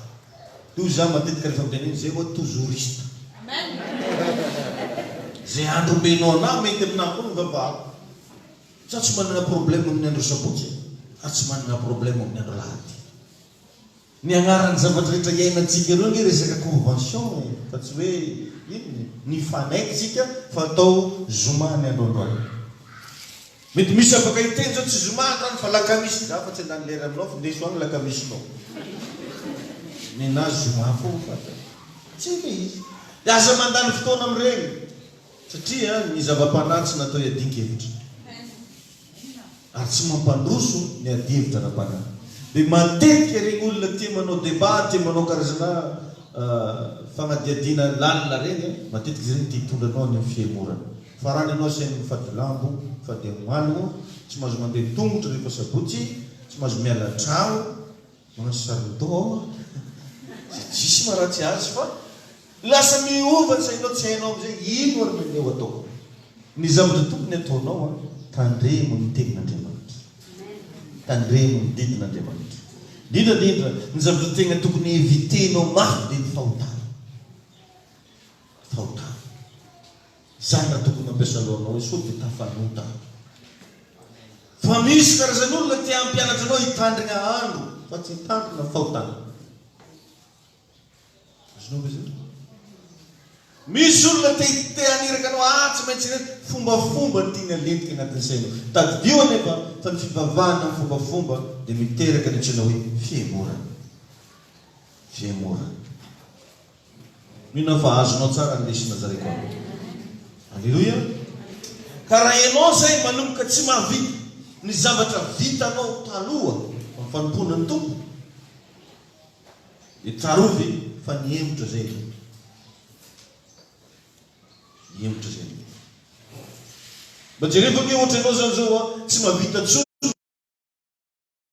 Toy za matetika refa miteny hoe zay oa tozouriste. Ze andro omenao anah mety aminah koa ny vavahako. Za tsy manana problème amin'ny andro sabotsy ary tsy manana problème amin'ny andro alahady. Ny agnaran'ny zavatra rehetra iainantsika ireo anie resaka convention e, fa tsy hoe inona e, nifanaiky tsika fa atao zoma ny andro androany. Mety misy afaka hiteny zao tsy zoma androany fa lakamisy, za afa tsy handany lera aminao fa ndeso agny lakamisinao. Nenazy zoma foagna fa tsy le izy. De aza mandany fotoana amregny. Satria ny zava-panahy tsy natao hiadian-kevitra ary tsy mampandroso ny adihevitra ara-panahy. Dia matetika ireny olona tia manao débat, tia manao karazana fanadihadiana lalina ireny, matetika izy ireny te hitondra anao any amin'ny fihemorana. Farany ianao asainy mifady lambo, mifady amalogna, tsy mahazo mandeha tongotra rehefa sabotsy, tsy mahazo miala an-trano. Manao sarindoha aho izay diso na raha tsy azo fa lasa miova ny sainao tsy hainao amin'izay ino ary ny anio ataoko. Ny zavatra tokony ataonao an, tandremo ny tenin'Andriamanitra. Tandremo ny didin'Andriamanitra. Indrindra indrindra, ny zavatra tegna tokony eviter-nao mafy dia ny fahotana. Fahotana. Zany raha tokony mampiasa lohanao io sao dia tafanota aby. Fa misy karazan olona te hampianatra anao hitandrigna andro fa tsy hitandrina fahotana. Azonao ve zany? Misy olona te te haniraka anao ah tsy maintsy ireto fombafomba ny tiany halentika agnatin'ny sainao. Tadidio anefa fa ny fivavahana amin'ny fombafomba dia miteraka ny antsoina hoe fihemorana. Fihemorana. Mino aho fa azonao tsara ny lesona zaraiko anao. Aleloia! Ka raha ianao izay manomboka tsy mahavita ny zavatra vitanao taloha amin'ny fanompoana ny Tompo, dia tsarovy fa nihemotra izay ny Tompo. Nihemotra izay ny Tompo. Mba jereo ve hoe ohatra ianao izany izao tsy mahavita intsony.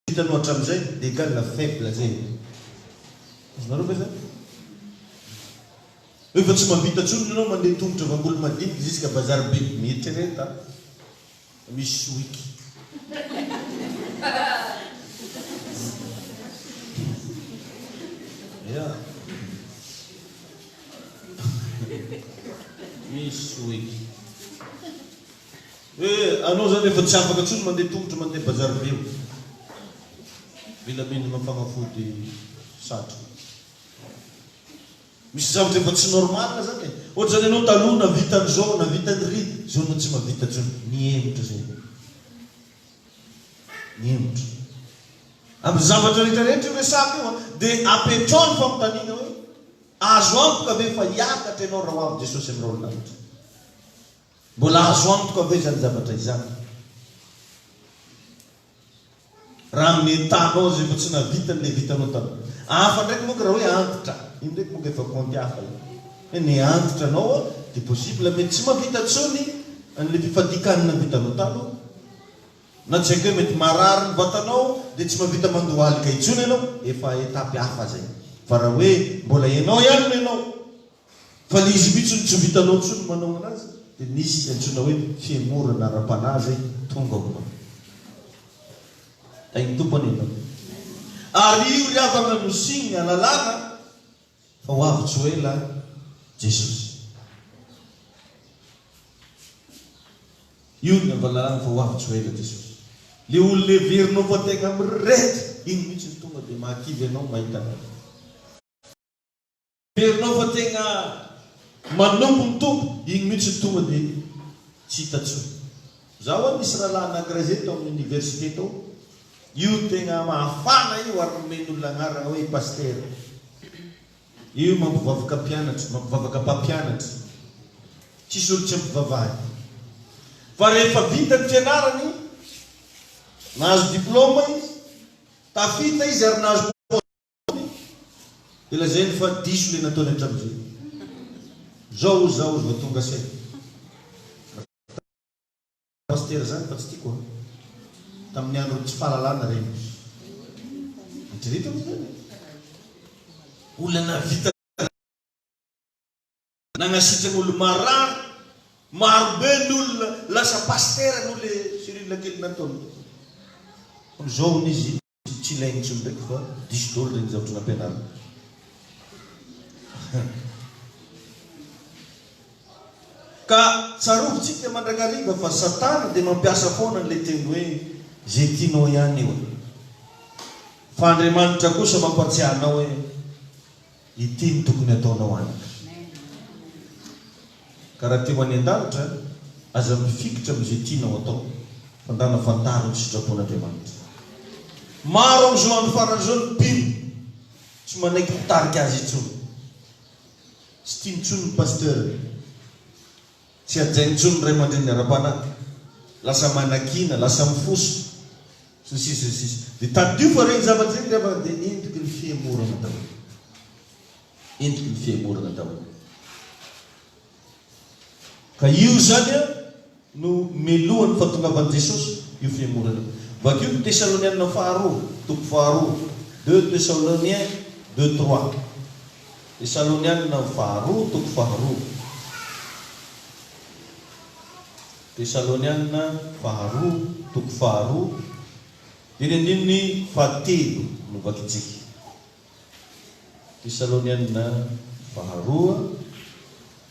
Vita no hatramin'izay egal faible zay e! Azonareo ve zany? Rehefa tsy mahavita tsony ny anao mandeha tongotra vangolo madinika ziska bazar be, mieritrereta fa misy sohiky. Ya. Misy sohiky. Hoe anao zany efa tsy afaka tsony mandeha tongotra mandeha bazary be o! Mila mendrina fanafody satroka. Misy zavatra efa tsy normal zany e! Ohatra zany ianao taloha navita an'izao, navita an'iry, zao anao tsy mavita tsony. Mihemotra zay ianao. Mihemotra. Amin'ny zavatra rehetra rehetra io resaka io a! Dia apetraho ny fanontaniana hoe, azo antoka ve fa hiakatra ianao raha ho avy Jesosy amin'ny rahon'ny lanitra? Mbola azo antoka ve izany zavatra izany? Raha amin'ny entahanao izay efa tsy nahavitany dia vitanao taloha. Hafa ndraiky moa ka raha hoe antitra, iny ndraiky moa ka efa kaonty hafa iny. Hoe ny antitra anao dia possible mety tsy mahavita intsony an'ilay fifadian-kanina vitanao taloha. Na tsy haiko hoe mety marary ny vatanao dia tsy mahavita mandohalika intsony ianao, efa étape hafa izay. Fa raha hoe mbola ianao ihany no ianao, Fa le izy mitsy no tsy vitanao ntsony manao anazy de misy ze antsoina hoe fihemorana ara-panahy zay tonga ao an. Tahin'ny Tompo anie ianao. Ary io ry havagna no signe, lalàna, fa ho avy tsy ho ela Jesosy. Io no lalàna fa ho avy tsy ho ela Jesosy. Le olona heverinao fa tegna mirehitra, iny mitsy no tonga de mahakivy anao mahita anao. Herinao fa tegna manompo ny Tompo, igny mihitsy no tonga dia tsy hita intsony. Za hono nisy rahalahy anankiray zay tao amin'ny université tao, io tegna mahafana io ary nomen'olona anarana hoe Pasitera. Io mampivavaka mpianatra, mampivavaka mpampianatra. Tsisy olo tsy ampivavahany. Fa rehefa vita ny fianarany, nahazo diplôma izy, tafita izy ary nahazo poste. Tony dia lazainy fa diso ilay nataony hatramin'izay. Izao hoy izaho vao tonga saina. Raha pasitera izany fa tsy tiako an. Tamin'ny andron'ny tsy fahalalana ireny hoy izy. Eritrereto anie izany e. Olona nahavita. Nanasitrana olona marary maro be ny olona lasa pasitera noho le Cyrille kely nataony. Amizao hono izy tsy ilainy intsony ndreky fa diso dolo reny zavatra nampianariny. Ka tsarovy tsika mandrakariva fa satana dia mampiasa foana anle teny hoe ze tianao ihany eo e. Fa Andriamanitra kosa mampatsiahy anao hoe. Ity no tokony ataonao anaka. Ka raha te ho any an-danitra, aza mifikitra amin'izay tianao atao, fa ndana fantaro ny sitrapon'Andriamanitra. Maro amin'izao andro farany izao ny mpino tsy manaiky mpitarika azy intsony. Tsy tiany intsony ny pasteur. Tsy hajaina intsony ny ray aman-dreniny ara-panahy, lasa manakiana, lasa mifoso, sy ny sisa sy ny sisa. Dia tadidio fa ireny zavatra ireny ry havana dia endriky ny fihemorana daholo. Endriky ny fihemorana daholo. Ka io izany no melohan'ny fahatongavan'i Jesosy, io fihemorana io. Vakio ny Tesalonianina faharoa, toko faharoa, deux Thessaloniens deux trois. Tesalonianina faharoa toko faharoa Tesalonianina faharoa toko faharoa Eny andininy fahatelo no vakintsika Tesalonianina faharoa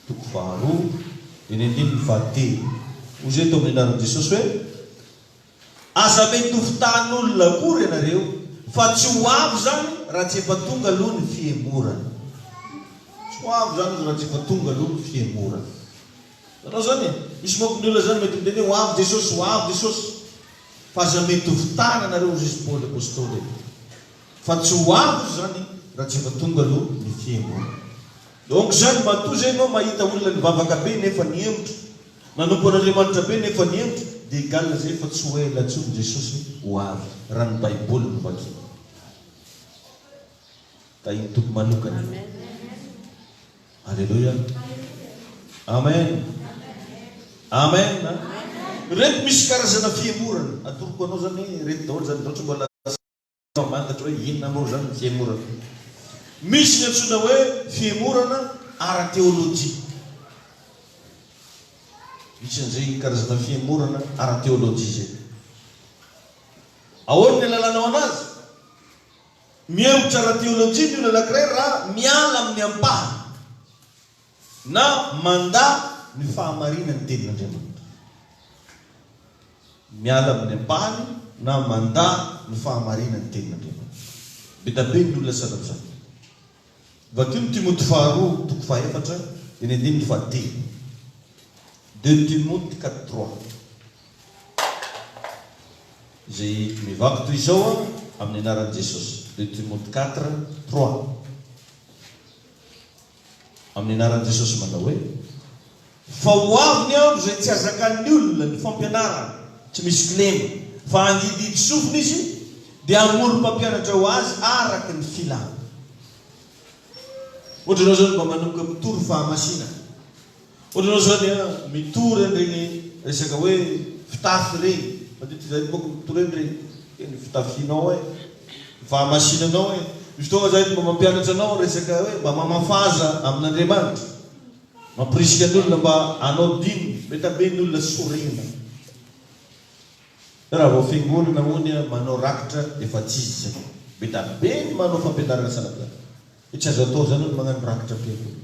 toko faharoa Eny andininy fahatelo Hoy izay teo amin'ny anaran'i Jesosy hoe. Aza mitovy tany olona akory ianareo fa tsy ho avo izany raha tsy efa tonga aloha ny fihemorana. Tsy ho avo izany izy raha tsy efa tonga aloha ny fihemorana. Hitanao izany e? Misy manko ny olona izany mety miteny hoe ho avy Jesosy, ho avy Jesosy. Fa aza mitovy tany ianareo hoy Jesosy Paoly Apostoly e. Fa tsy ho avo izy izany raha tsy efa tonga aloha ny fihemorana. Donc izany matoa izay ianao mahita olona nivavaka be nefa nihemotra. Nanompo an'Andriamanitra be nefa nihento dia i Galina izay fa tsy ho ela intsony Jesosy ho avy raha ny baiboly no vakina. Tahin'ny Tompo manokana io. Aleloia. Amen. Amen. Ireto misy karazana fihemorana. Atoroko anao izany hoe ireto daholo izany. Raha ohatra mbola. Fa mangatra hoe inona moa izany ny fihemorana? Misy ny antsoina hoe fihemorana ara-teolojia. Misy an'izay karazana fihemorana ara-teolojia izay. Ahoana ny alalanao anazy? Mihemotra ara-teolojia ny olona anankiray raha miala amin'ny ampahany. Na mandà ny fahamarinan'ny tenin'Andriamanitra. Miala amin'ny ampahany na mandà ny fahamarinan'ny tenin'Andriamanitra. Be da be ny olona tsy afa-mivaky. Vakio ny Timoty faharoa toko fahefatra dia ny andininy fahatelo. Deux Timote quatre trois. Izay mivaky toy izao an, amin'ny anaran'i Jesosy. Deux Timote quatre trois. Amin'ny anaran'i Jesosy manao hoe. Fa ho avy ny andro izay tsy hazakan'ny olona ny fampianarany, tsy misy kilema, fa handididy sofina izy, dia hamory mpampianatra ho azy araka ny filany. Ohatra, ianao izao no mba manomboka mitory fahamasinana. Ohatranao izany a, mitory an'ireny resaka hoe fitafy ireny, mandinika izany manko ny mitory an'ireny hoe ny fitafianao e, ny fahamasinanao e. Misy fotoana aza aho mba mampianatra anao resaka hoe mba mamafaza amin'Andriamanitra, mampirisika ny olona mba hanao dina, mety hambe ny olona sorena. Hoe raha vao fiangonana hono a, manao rakitra efa tsy izy izay. Mety hambe ny manao fampianarana sanatria. Hoe tsy azo atao izany hono magnano rakitra am-piangonana.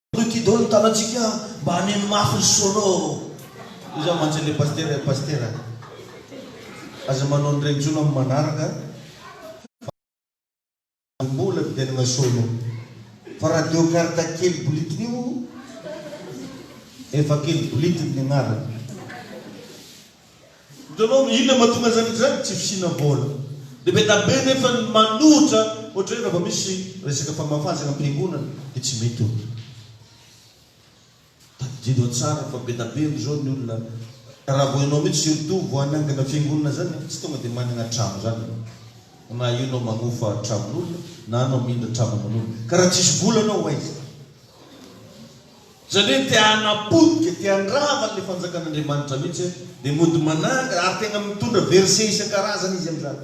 Truc dolo ny tanantsika mba haneno mafy ny solo ô. Io zany mantsy le pasitera e pasitera aza manao ny reny tsony am manaraka fa aza mbola miderana solo fa radio karta kely bolitiny io efa kely bolitiny ny agnarany. Hitanao, inona no mahatonga an'izany izany? Tsy fisiana vola. Dia be dia be nefa ny manohitra, ohatra hoe raha vao misy resaka fahamafazana am-piangonana dia tsy mety ohatra. Tadidio tsara fa be dia be amin'izao ny olona, raha vao ianao mihitsy surtout vao hanangana fiangonana izany, tsy tonga dia manana trano izany ianao. Na io ianao manofa tranon'olona, na ianao mindra trano aman'olona. Ka raha tsisy vola ianao ho aiza? Izany hoe te hanapotika, te handrava an'ilay fanjakan'Andriamanitra mihitsy aho, dia mody manangana ary tena mitondra verset isan-karazany izy amin'izany.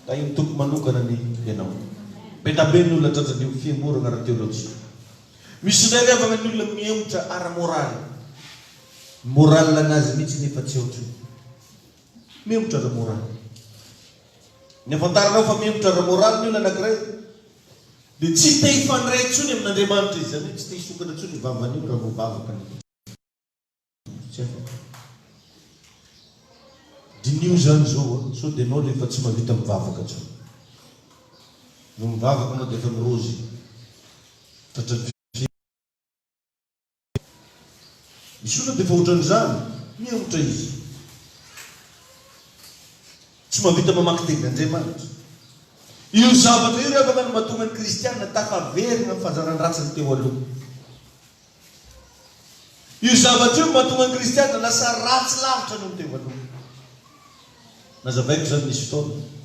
Raha iny toko manokana ny ianao. Be da be ny olona tratran'ny io fihemorana ara-teolojia. Misy indray ry havana ny olona mihemotra ara-moraly. Ny moral-nazy mihitsy nefa tsy ohatran'ny. Miemotra ra moraly. Ny afantaranao fa miemotra ra moraly ny olona anakiray dia tsy te hifandray intsony amin Andriamanitra izy, izany hoe tsy te hisokatra intsony io vavany io raha vao vavaka ny olona. Tsy afaka. Diniho izany izao a, sao dia ianao ilay efa tsy mahavita mivavaka intsony. Vao mivavaka ianao dia efa mirozy tratran'ny fihetsika. Izy io aloha dia efa ohatran'izany, mihemotra izy. Tsy mahavita mamaky Tenin'Andriamanitra. Io zavatra io ry havana no mahatonga ny kristiana tafaverina amin'ny fahazaran-dratsiny teo aloha. Io zavatra io no mahatonga ny kristiana lasa ratsy lavitra noho ny teo aloha. Nazavaiko izany nisy fotoana.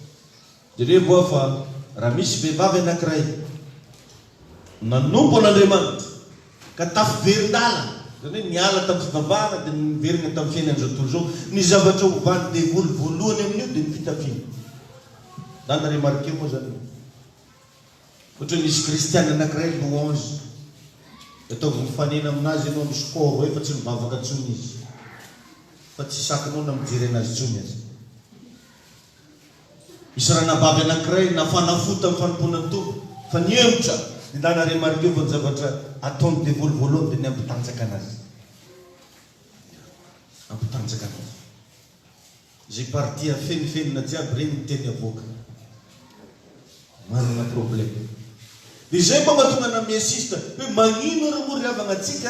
Jereo hoa fa raha misy vehivavy anankiray nanompo an'Andriamanitra ka tafiverin-dàlana, izany hoe niala tamin'ny fivavahana dia niverina tamin'ny fiainan'izao tontolo izao, ny zavatra ovan'ny devoly voalohany amin'io dia ny fitafiana. Za na-remarquer moa izany hoe ohatra hoe misy kristiana anankiray louange dia ataovy mifanena amin'azy ianao, misy kôro hoe fa tsy mivavaka intsony izy fa tsy sakinao na mijery an'azy intsony aza. Misy ranabavy anankiray nafana fo tamin'ny fanompoana ny Tompo fa nihemotra ny làlana remarqueo fa ny zavatra ataon'ny devoly voalohany dia ny hampitanjaka anazy. Hampitanjaka anazy. Izay partie afenifenina jiaby ireny ny teny avoaka. Manana problème. Dia izay mba mahatonga anà miinsiste hoe magnino ary moa ry havagna antsika?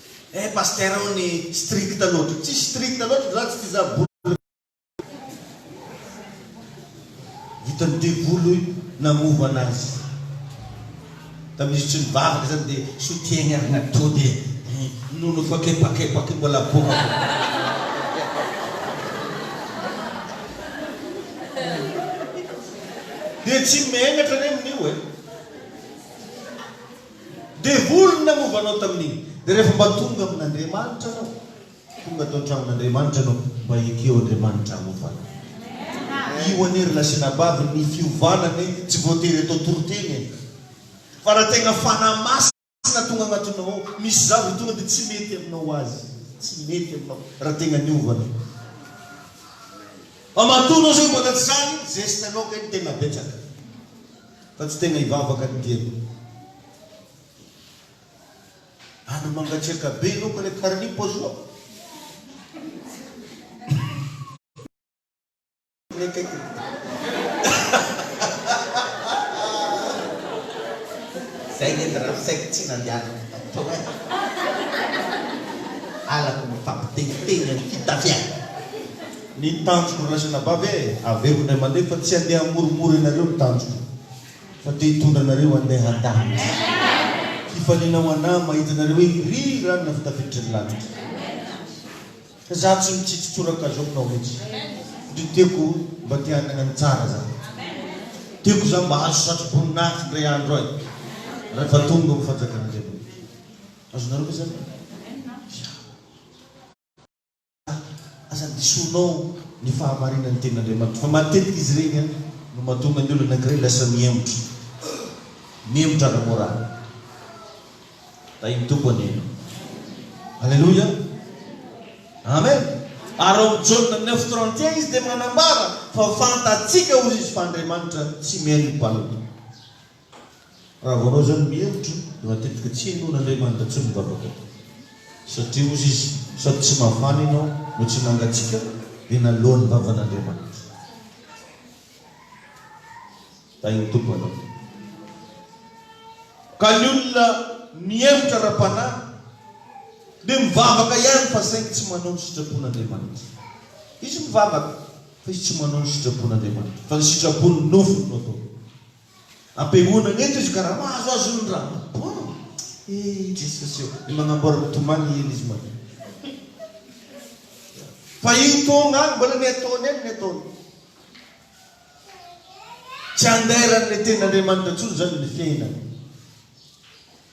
Eh Pasteur hono strict loatra. Tsy strict loatra zany satria za bola vitan'ny devoly namovo anazy tamin'izy tsy nivavaka zany de soutien-gny ary natody e nono efa kepakepaky mbola boaka de tsy megnatra anie amin'io e. Devoly no nanova anao tamin'iny. Dia rehefa mba tonga amin'Andriamanitra anao, tonga tao an-tranon'Andriamanitra anao, mba ekeo Andriamanitra hanova anao. Io anie ry lahy sy anabavy ny fiovana anie tsy voatery atao toriteny e. Fa raha tegna Fanahy Masina tonga agnatinao ao, misy zavatra tonga dia tsy mety aminao azy, tsy mety aminao raha tegna niova anao. Fa matoa anao zay mbola tsy zany, zeste-nao kay no tegna betsaka. Fa tsy tena hivavaka ny diako. Andro mangatsiaka be aloha ka le karinipo azoa. Zay nge ndra ny saiko tsy nandehanako tato eh. Halako mifampiteniteny amin'ny fitafiana. Ny tanjoko ry lahy sy anabavy e! Averiko indray mandeha fa tsy handeha hamoromoro ianareo ny tanjoko fa te hitondra anareo handeha handahatry fifaliana ho anah mahita anareo eny ry ra nina fitafiditry ny latitra ka za tsy mitsitsy tsoraka zao kinao mitsy ndry tiako mba te hanana ny tsara za tiako za mba hahazo satroboninahitry ndray andro ay refa tonga ho fanjakan'Andriamanitra azonareo ve zany? Aza disoinao ny fahamarinan'ny tenin'Andriamanitra fa matetika izy ireny no mahatonga ny olona anankiray lasa mihemotra. Mihemotra ara-môraly. Tahin'ny Tompo anie ianao. Aleloia. Amen. Ary ao amin'ny Jaona neuf trente et un izy dia manambara fa fantatsika hoy izy fa Andriamanitra tsy mihaino ny mpanota. Raha vao anao izany mihevitra dia matetika tsy henoin'Andriamanitra intsony ny vavaka tao. Satria hozy Izy, sady tsy mafana ianao no tsy mangatsiaka dia naloa ny vavan'Andriamanitra. Tahin'ny Tompo anao. Ka ny olona mihevitra ara-panahy dia mivavaka ihany fa saingy tsy manao ny sitrapon'Andriamanitra. Izy mivavaka fa izy tsy manao ny sitrapon'Andriamanitra fa ny sitrapon'ny nofony no ataony. Ampihaonana eto izy ka raha mahazo azy ny ra bon eh i Jesosy ô! Ny manamboara ny tomany hiely izy maloha fa io togna agny mbola ny ataony any ny ataony tsy andairan'ny tenin'Andriamanitra intsony zany ny fiainana.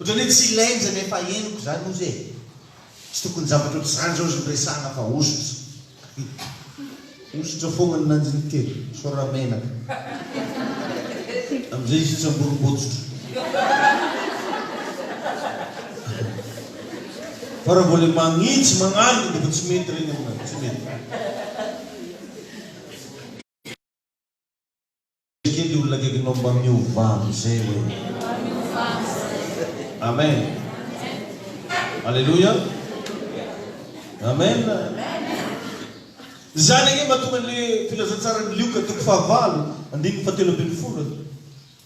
Otrany hoe tsy ilainy zany efa henoko zany ozy e! Tsy tokony zavatra otrzany zao zny resahana fa hosotra hihh. Hosotra fogna ny nanjiny telo sao ra menaka amzay izy tsy amborim-botsotra fa ra vao le magnitsy magnarina de fa tsy mety regny amina tsy mety. Ekeo le olona akaikinao mba miovà amizay oe. Amen Aleloia Amen Izany ange mahatonga anle filazantsaran'i Lioka toko fahavalo andininy fahatelo ambin'ny folo e.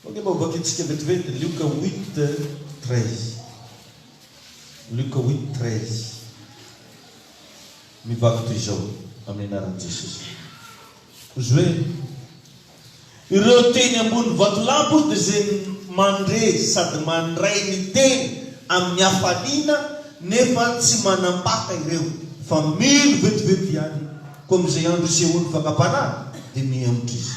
Koa ange mba hovakintsika vetivety Lioka huit treize. Lioka huit treize. Mivaky toy izao amin'ny anaran'i Jesosy. Joe. Ireo teny ambony vatolampy dia izay mandre sady mandray ny teny amin'ny hafaliana nefa tsy manam-paka ireo fa mino vetivetivy ihany koa amin'izay andro isehoan'ny fakam-panahy dia mihemotra izy.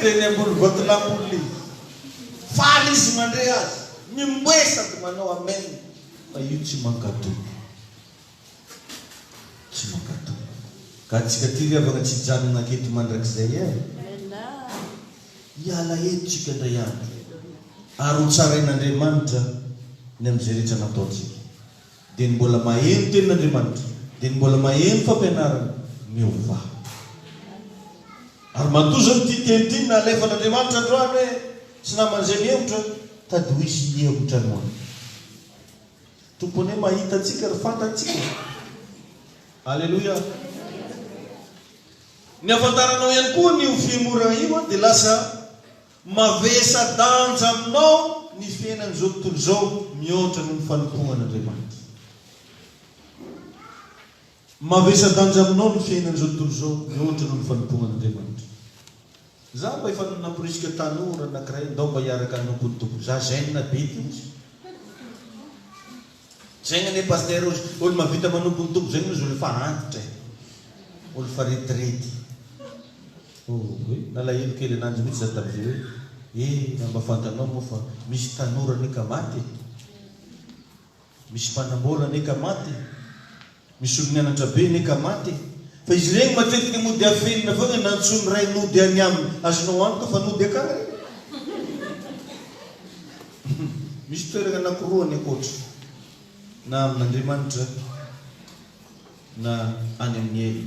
Teny ambony ventilampoly faly izy mandre azy mimoe sady manao amen fa io tsy mankatò tsy mankatò ka antsika ty ry havagna tsy hijanogna aketo mandrakizay eh hiala eto tsika ndray andro ary ho tsarain'Andriamanitra ny am'zay rehetra nataontsika. Dia ny mbola maheno tenin'Andriamanitra, dia ny mbola maheno fampianarana, miovà. Ary matoa izao ity teny ity no nalefan'Andriamanitra androany hoe, Tsy naman'izay mihemotra, tady ho hisy hihemotra anao. Ny Tompo anie mahita antsika ary fantatsika. Aleloia! Ny hafantaranao ihany koa an'io fihemorana io dia lasa Mavesa-danja aminao ny fiainan'izao tontolo izao mihoatra noho ny fanompoan'Andriamanitra. Mavesa-danja aminao ny fiainan'izao tontolo izao mihoatra noho ny fanompoan'Andriamanitra. Izaho mba efa namporisika tanora anankiray ndao mba hiaraka hanompo ny Tompo. Za zen be ty hozy. Zegny anie Pasteur ozy, olo mavita manompo ny Tompo zegny ozy olo fa antitra e! Olo fa retirety. Ohoy, nalahelo kely ananjy mitsy za tamzay hoe, eh raha mba fantanao moa fa misy tanora anie ka maty e! Misy mpanambola anie ka maty e! Misy olo nianatra be ne ka maty e! Fa izy ireny matetika mody afenina foana na antsoin'ny ray nody any aminy, azonao antoka fa nody akany reny! Misy toerana anankiroa any ankoatra, na amin'Andriamanitra na any amin'ny ela.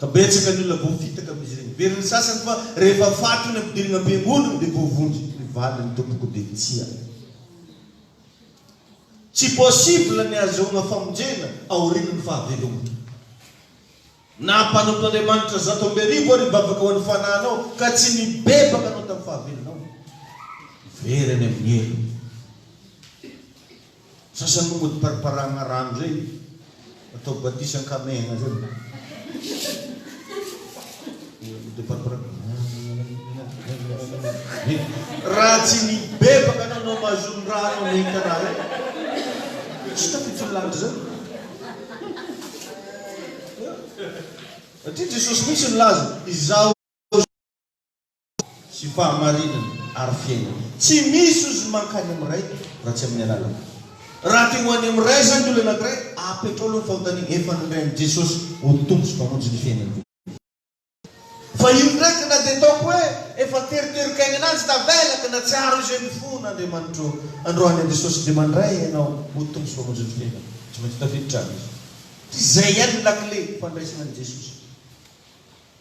Ka betsaka ny olona voafitaka amin'izy ireny. Very ny sasany fa rehefa faty ny ampidirina am-piangonana dia voavonjy ny valiny tompoko dia tsia. Tsy possible ny ahazoana famonjena aorian'ny fahavelomana. Na mpanompo Andriamanitra zato amby arivo ary hivavaka ho an'ny fanahinao ka tsy nibebaka anao tamin'ny fahavelonao. Very any amin'ny helo. Sasany moa mody pariparahana rano zay atao batisa ankamehana zay raha tsy ny bebaka anao no mahazoa ny rano amin'ny karaha zay tsy tafiditra ny lanitra zany satria Jesosy mihitsy nilaza izaho sy fahamarinana ary fiainana. Tsy misy ozy mankany amin'ny Ray raha tsy amin'ny alalan'i. Raha te ho any amin'ny Ray izany ny olona anankiray, apetrao aloha ny fanontaniana, efa nandray an'i Jesosy ho Tompo sy Mpamonjy ny fiainany ve? Fa io ndraiky na dia ataoko hoe efa teriterin-kaina ananjy tavela ka nahatsiaro izay mifono Andriamanitro, androany an'i Jesosy dia mandray ianao ho Tompo sy Mpamonjy ny fiainany. Tsy maintsy tafiditra any izy. Izay ihany ny lakile fandraisana an'i Jesosy.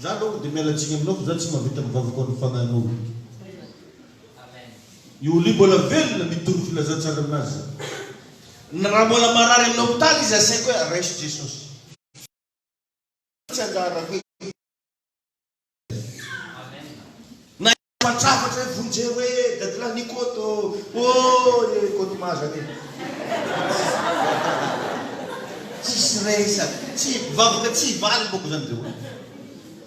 Za longany de miala tsiny aminao fa za tsy mahavita ny vavako any fagnahinao io. I Oli mbola velona mitory filazantsara aminazy za. Ny raha mbola marary amin'ny hopitaly izy asaiko hoe raiso Jesosy. Tsy anjaran'koe. Fa trafatra e vonjeo hoe dadalahy Nikoto ooh e Koto Mazana e. Tsisy resaka, tsy vavaka tsy hivaly ny baokozany zay hoe.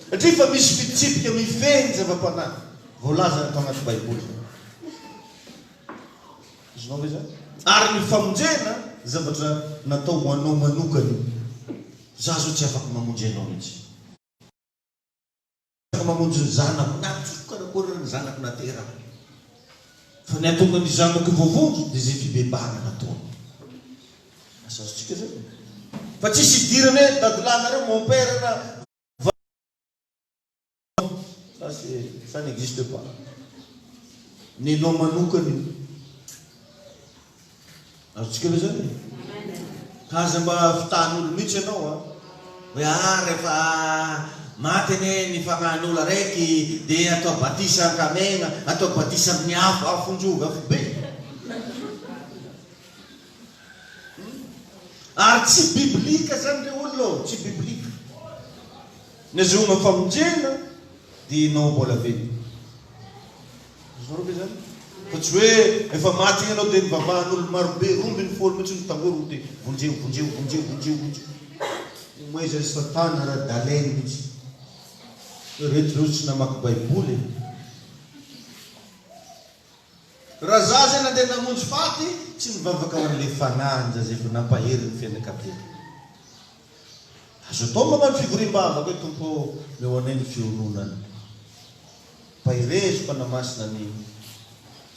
Satria efa misy fitsipika mifehy ny zava-panahy voalazany ato anaty baiboly zany. Azonao ve zany? Ary ny famonjena zavatra natao ho anao manokana io. Za zao tsy afaka mamonjy anao mintsy. ka mamonjy ny zanako, na tiako karakôry ary ny zanako na teraka, fa ny hahatonga ny zanako voavonjy dia izay fibebahana nataony. Asa azontsika zay e! Fa tsisy hidirana e, dadilahy nareo, mon père na va ça c'est ça n'existe pas, nenao manokana io. Azontsika ve zany? Ka aza mba vitahan'olo mihitsy ianao a! Hoe ah rehefa maty anie ny fagnahin'olo araiky de atao batisa an-kamegna, atao batisa amin'ny afo, afon-jovy, afobe. Ary tsy biblika zany re olona ô, tsy biblika. Ny azahoanao famonjena de ianao mbola velona. Azonareo ve izany? Fa tsy hoe efa maty iny ianao dia nivavahan'olona marobe roa ambin'ny folo mihitsy no tangory dia vonjeo, vonjeo, vonjeo, vonjeo, vonjeo. Omezan'i Satana ara-daleny mihitsy. Ireto ireo tsy namaky Baiboly e! Raha za izay nandeha namonjy faty, tsy nivavaka ho an'ilay fanahin-jaza efa nampahery ny fianakaviany. Azo atao manao ny fivoriam-bavaka hoe Tompo ô, meo anay ny fioronany. Mpaherezo, Mpanahy Masina ny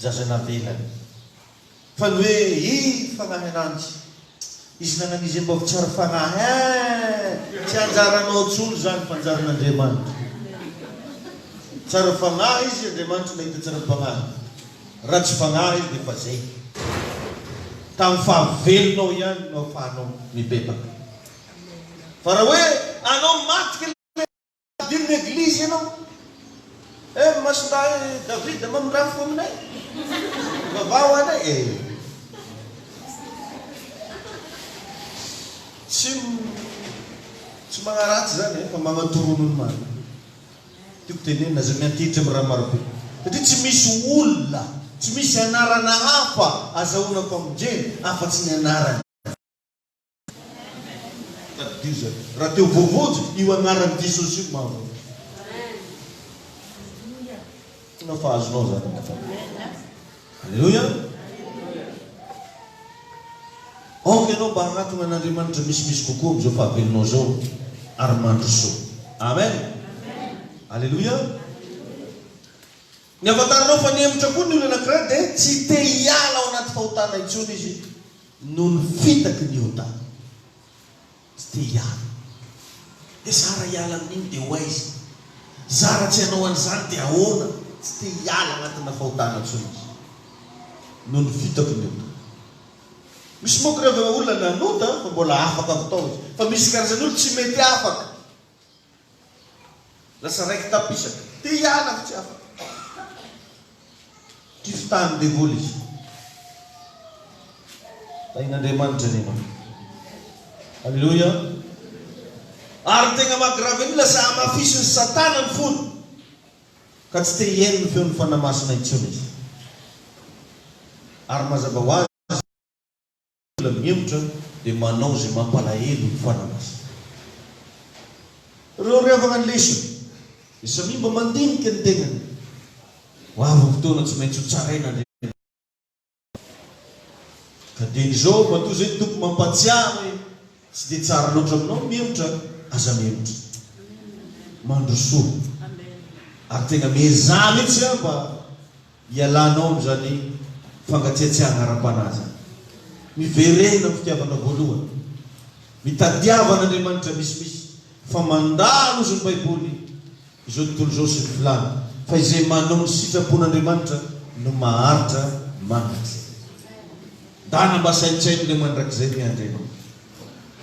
zaza navelany. Fa ny hoe i Fanahy Ananjy, Izy nanan'izy mba ho tsara fanahy, eeh! tsy anjaranao tsony izany fa anjaran'Andriamanitra. Tsara fanahy Izy, Andriamanitra nahita tsara-panahy. Raha tsy fanahy dia efa zay. Tamin'ny fahavelonao ihany no afahanao mibebaka. Fa raha hoe anao maty kay tadidio ny eglizy ianao. Eh masindahy David mamindrano fo aminay. Vavaha ho anay eh. Tsy tsy magnaratsy zany eh fa magnatorono ny marina. Tiako tenenina izay miantehitra amin'ny raha marobe satria tsy misy olona, tsy misy anarana hafa azahoana famonjena afa-tsy ny anaran'i Jesosy. Tadidio izany, raha te ho voavonjy, io anaran'i Jesosy io no mahavonjy. Tsy mahafaha azonao izany angamba. Aleloia! Aoka ianao mba hanatona an'Andriamanitra misimisy kokoa amin'izao fahavelonao izao ary mandroso. Amen! Aleloia! Ny ahafantaranao fa nihemotra koa ny olona anankiray dia tsy te hiala ao anaty fahotana intsony izy noho ny fitaky ny ota. Tsy te hiala. Dia zara hiala amin'iny dia ho aiza? Zara tsy hanao an'izany dia ahoana? Tsy te hiala anatinà fahotana intsony izy noho ny fitako ny ota. Misy manko ireo olona nanota fa mbola afaka avy tao izy. Fa misy karazan'olona tsy mety afaka. Lasa raiki-tapisaka. Te hiala avy tsy afaka. Kifitahan'ny devoly izy. Tahin'Andriamanitra anie manko. Aleloia. Ary ny tegna maha-grave an'io, lasa hamafisin'i Satana ny fony, ka tsy te hihaino ny feon'ny Fanahy Masina intsony izy. Ary mazava ho azy, olona mihemotra dia manao izay mampalahelo ny fanamasina. Ireo revana ny lesona, dia samia mba mandinika ny tenany. Ho avy ny fotoana tsy maintsy ho tsaraina ny revana mihemotra. Ka dieny izao, matoa izay ny Tompo mampahatsiahy hoe tsy dia tsara loatra aminao ny mihemotra, aza mihemotra. Mandrosoa. Ary tena miezaha mihitsy aho mba Ialanao amin'izany fangatsiatsiahana ara-panahy izany. Miverena amin'ny fitiavana voalohany. Mitadiava an'Andriamanitra misimisy fa mandalo ozy ny Baiboly izao tontolo izao sy ny filany fa izay manao ny sitrapon'Andriamanitra no maharitra mandrakizay. Ndana mba saintsaino ilay mandrakizay miandry anao.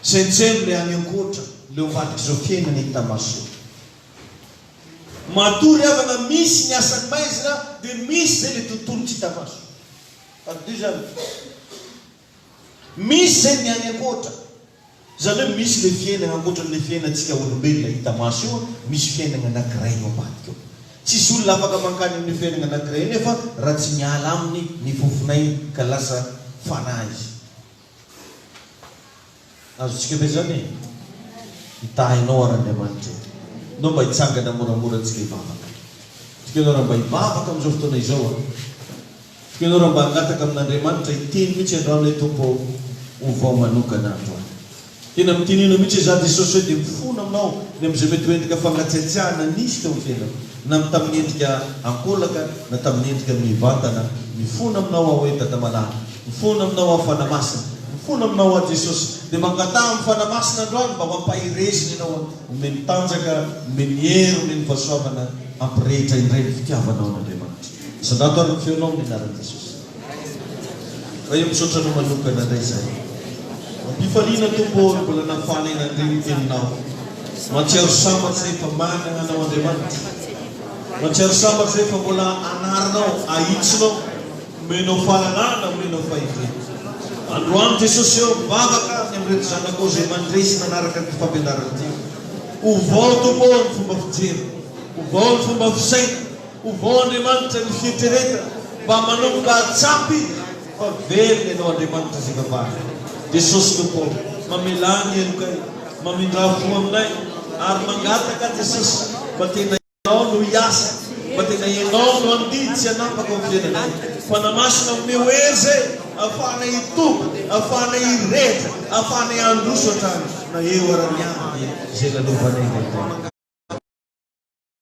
Saintsaino ilay any ankoatra, ilay ao ambadik'izao fiainana hita maso eo. Matoa ry havana misy ny asan'ny maizina dia misy izay le tontolo tsy hita maso. Adonoy izany e. Misy izay ny any ankoatra. Izany hoe misy le fiainana ankoatran'le fiainantsika olombelona hita maso io, misy fiainagna anakiray eo ambadika ao. Tsisy olona afaka mankany amin'io fiainagna anakiray io nefa raha tsy miala aminy ny fofon'ainy ka lasa fanahy izy. Azontsika ve izany e? Hitahy anao ary Andriamanitra e! Nao mba hitsangana moramora antsika hivavaka. Tiko ianao raha mba hivavaka amin'izao fotoana izao an! Tiko ianao raha mba hangataka amin'Andriamanitra hiteny mihitsy androany ilay Tompo ao ho vao manokana androany. Tena mitinino mihitsy izaho Jesosy hoe dia mifona aminao ny amin'izay mety ho endrika fangatsiatsiahana nisy teo amin'ny fiainako. na amin'ny tamin'ny endrika ankolaka na tamin'ny endrika mivantana, mifona aminao aho hoe Dada Malala, mifona aminao aho Fanahy Masina, mifona aminao aho Jesosy, dia mangataha amin'ny Fanahy Masina androany mba ho ampahereziny ianao, omeny tanjaka, omeny hery, omeny fahasoavana hampirehitra indray ny fitiavanao an'Andriamanitra. Misandrato ary ny feonao amin'ny anaran'i Jesosy. Ray ô misaotra anao manokana ndray zay. Mampifaliana Tompo ô ny mbola nafaly ahy nandre ny teninao. Matsiaro sambatra re fa manana anao Andriamanitra. Matsiaro sambatra re fa mbola anarinao, ahitsonao, omenao fahalalana, omenao fahefena. Androany Jesosy ô mivavaka ny amin'ireto zanakao izay mandre sy manaraka ity fampianarana ity. Ovao Tompo ô ny fomba fijery, ovao ny fomba fisaina. Ovao Andriamanitra ny fieritreretana mba manomboka ahatsapa Izy fa velona ianao Andriamanitra fivavahana Jesosy Tompo ô mamelà ny helokay mamindrà fo aminay ary mangataka Jesosy mba tena Ianao no hiasa mba tena Ianao no handidy sy hanapaka ao amin'ny fiainanay Fanahy Masina omeo hery zay ahafahanay hitombo ahafahanay hirehitra ahafahanay handroso hatrany na eo ara-mianany izay lalovanay Lehibe.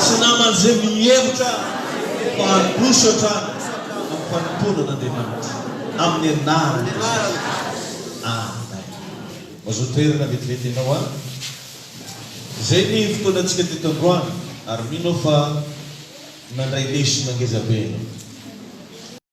Tsy namana izay mihevitra fa handroso hatrany amin'ny fanompoana an'Andriamanitra amin'ny anaran'i Jesosy. Amen. Mazoa toerana vetivety ianao an. Izay ny fotoanantsika teto androany ary mino aho fa nandray lesona ngeza be ianao.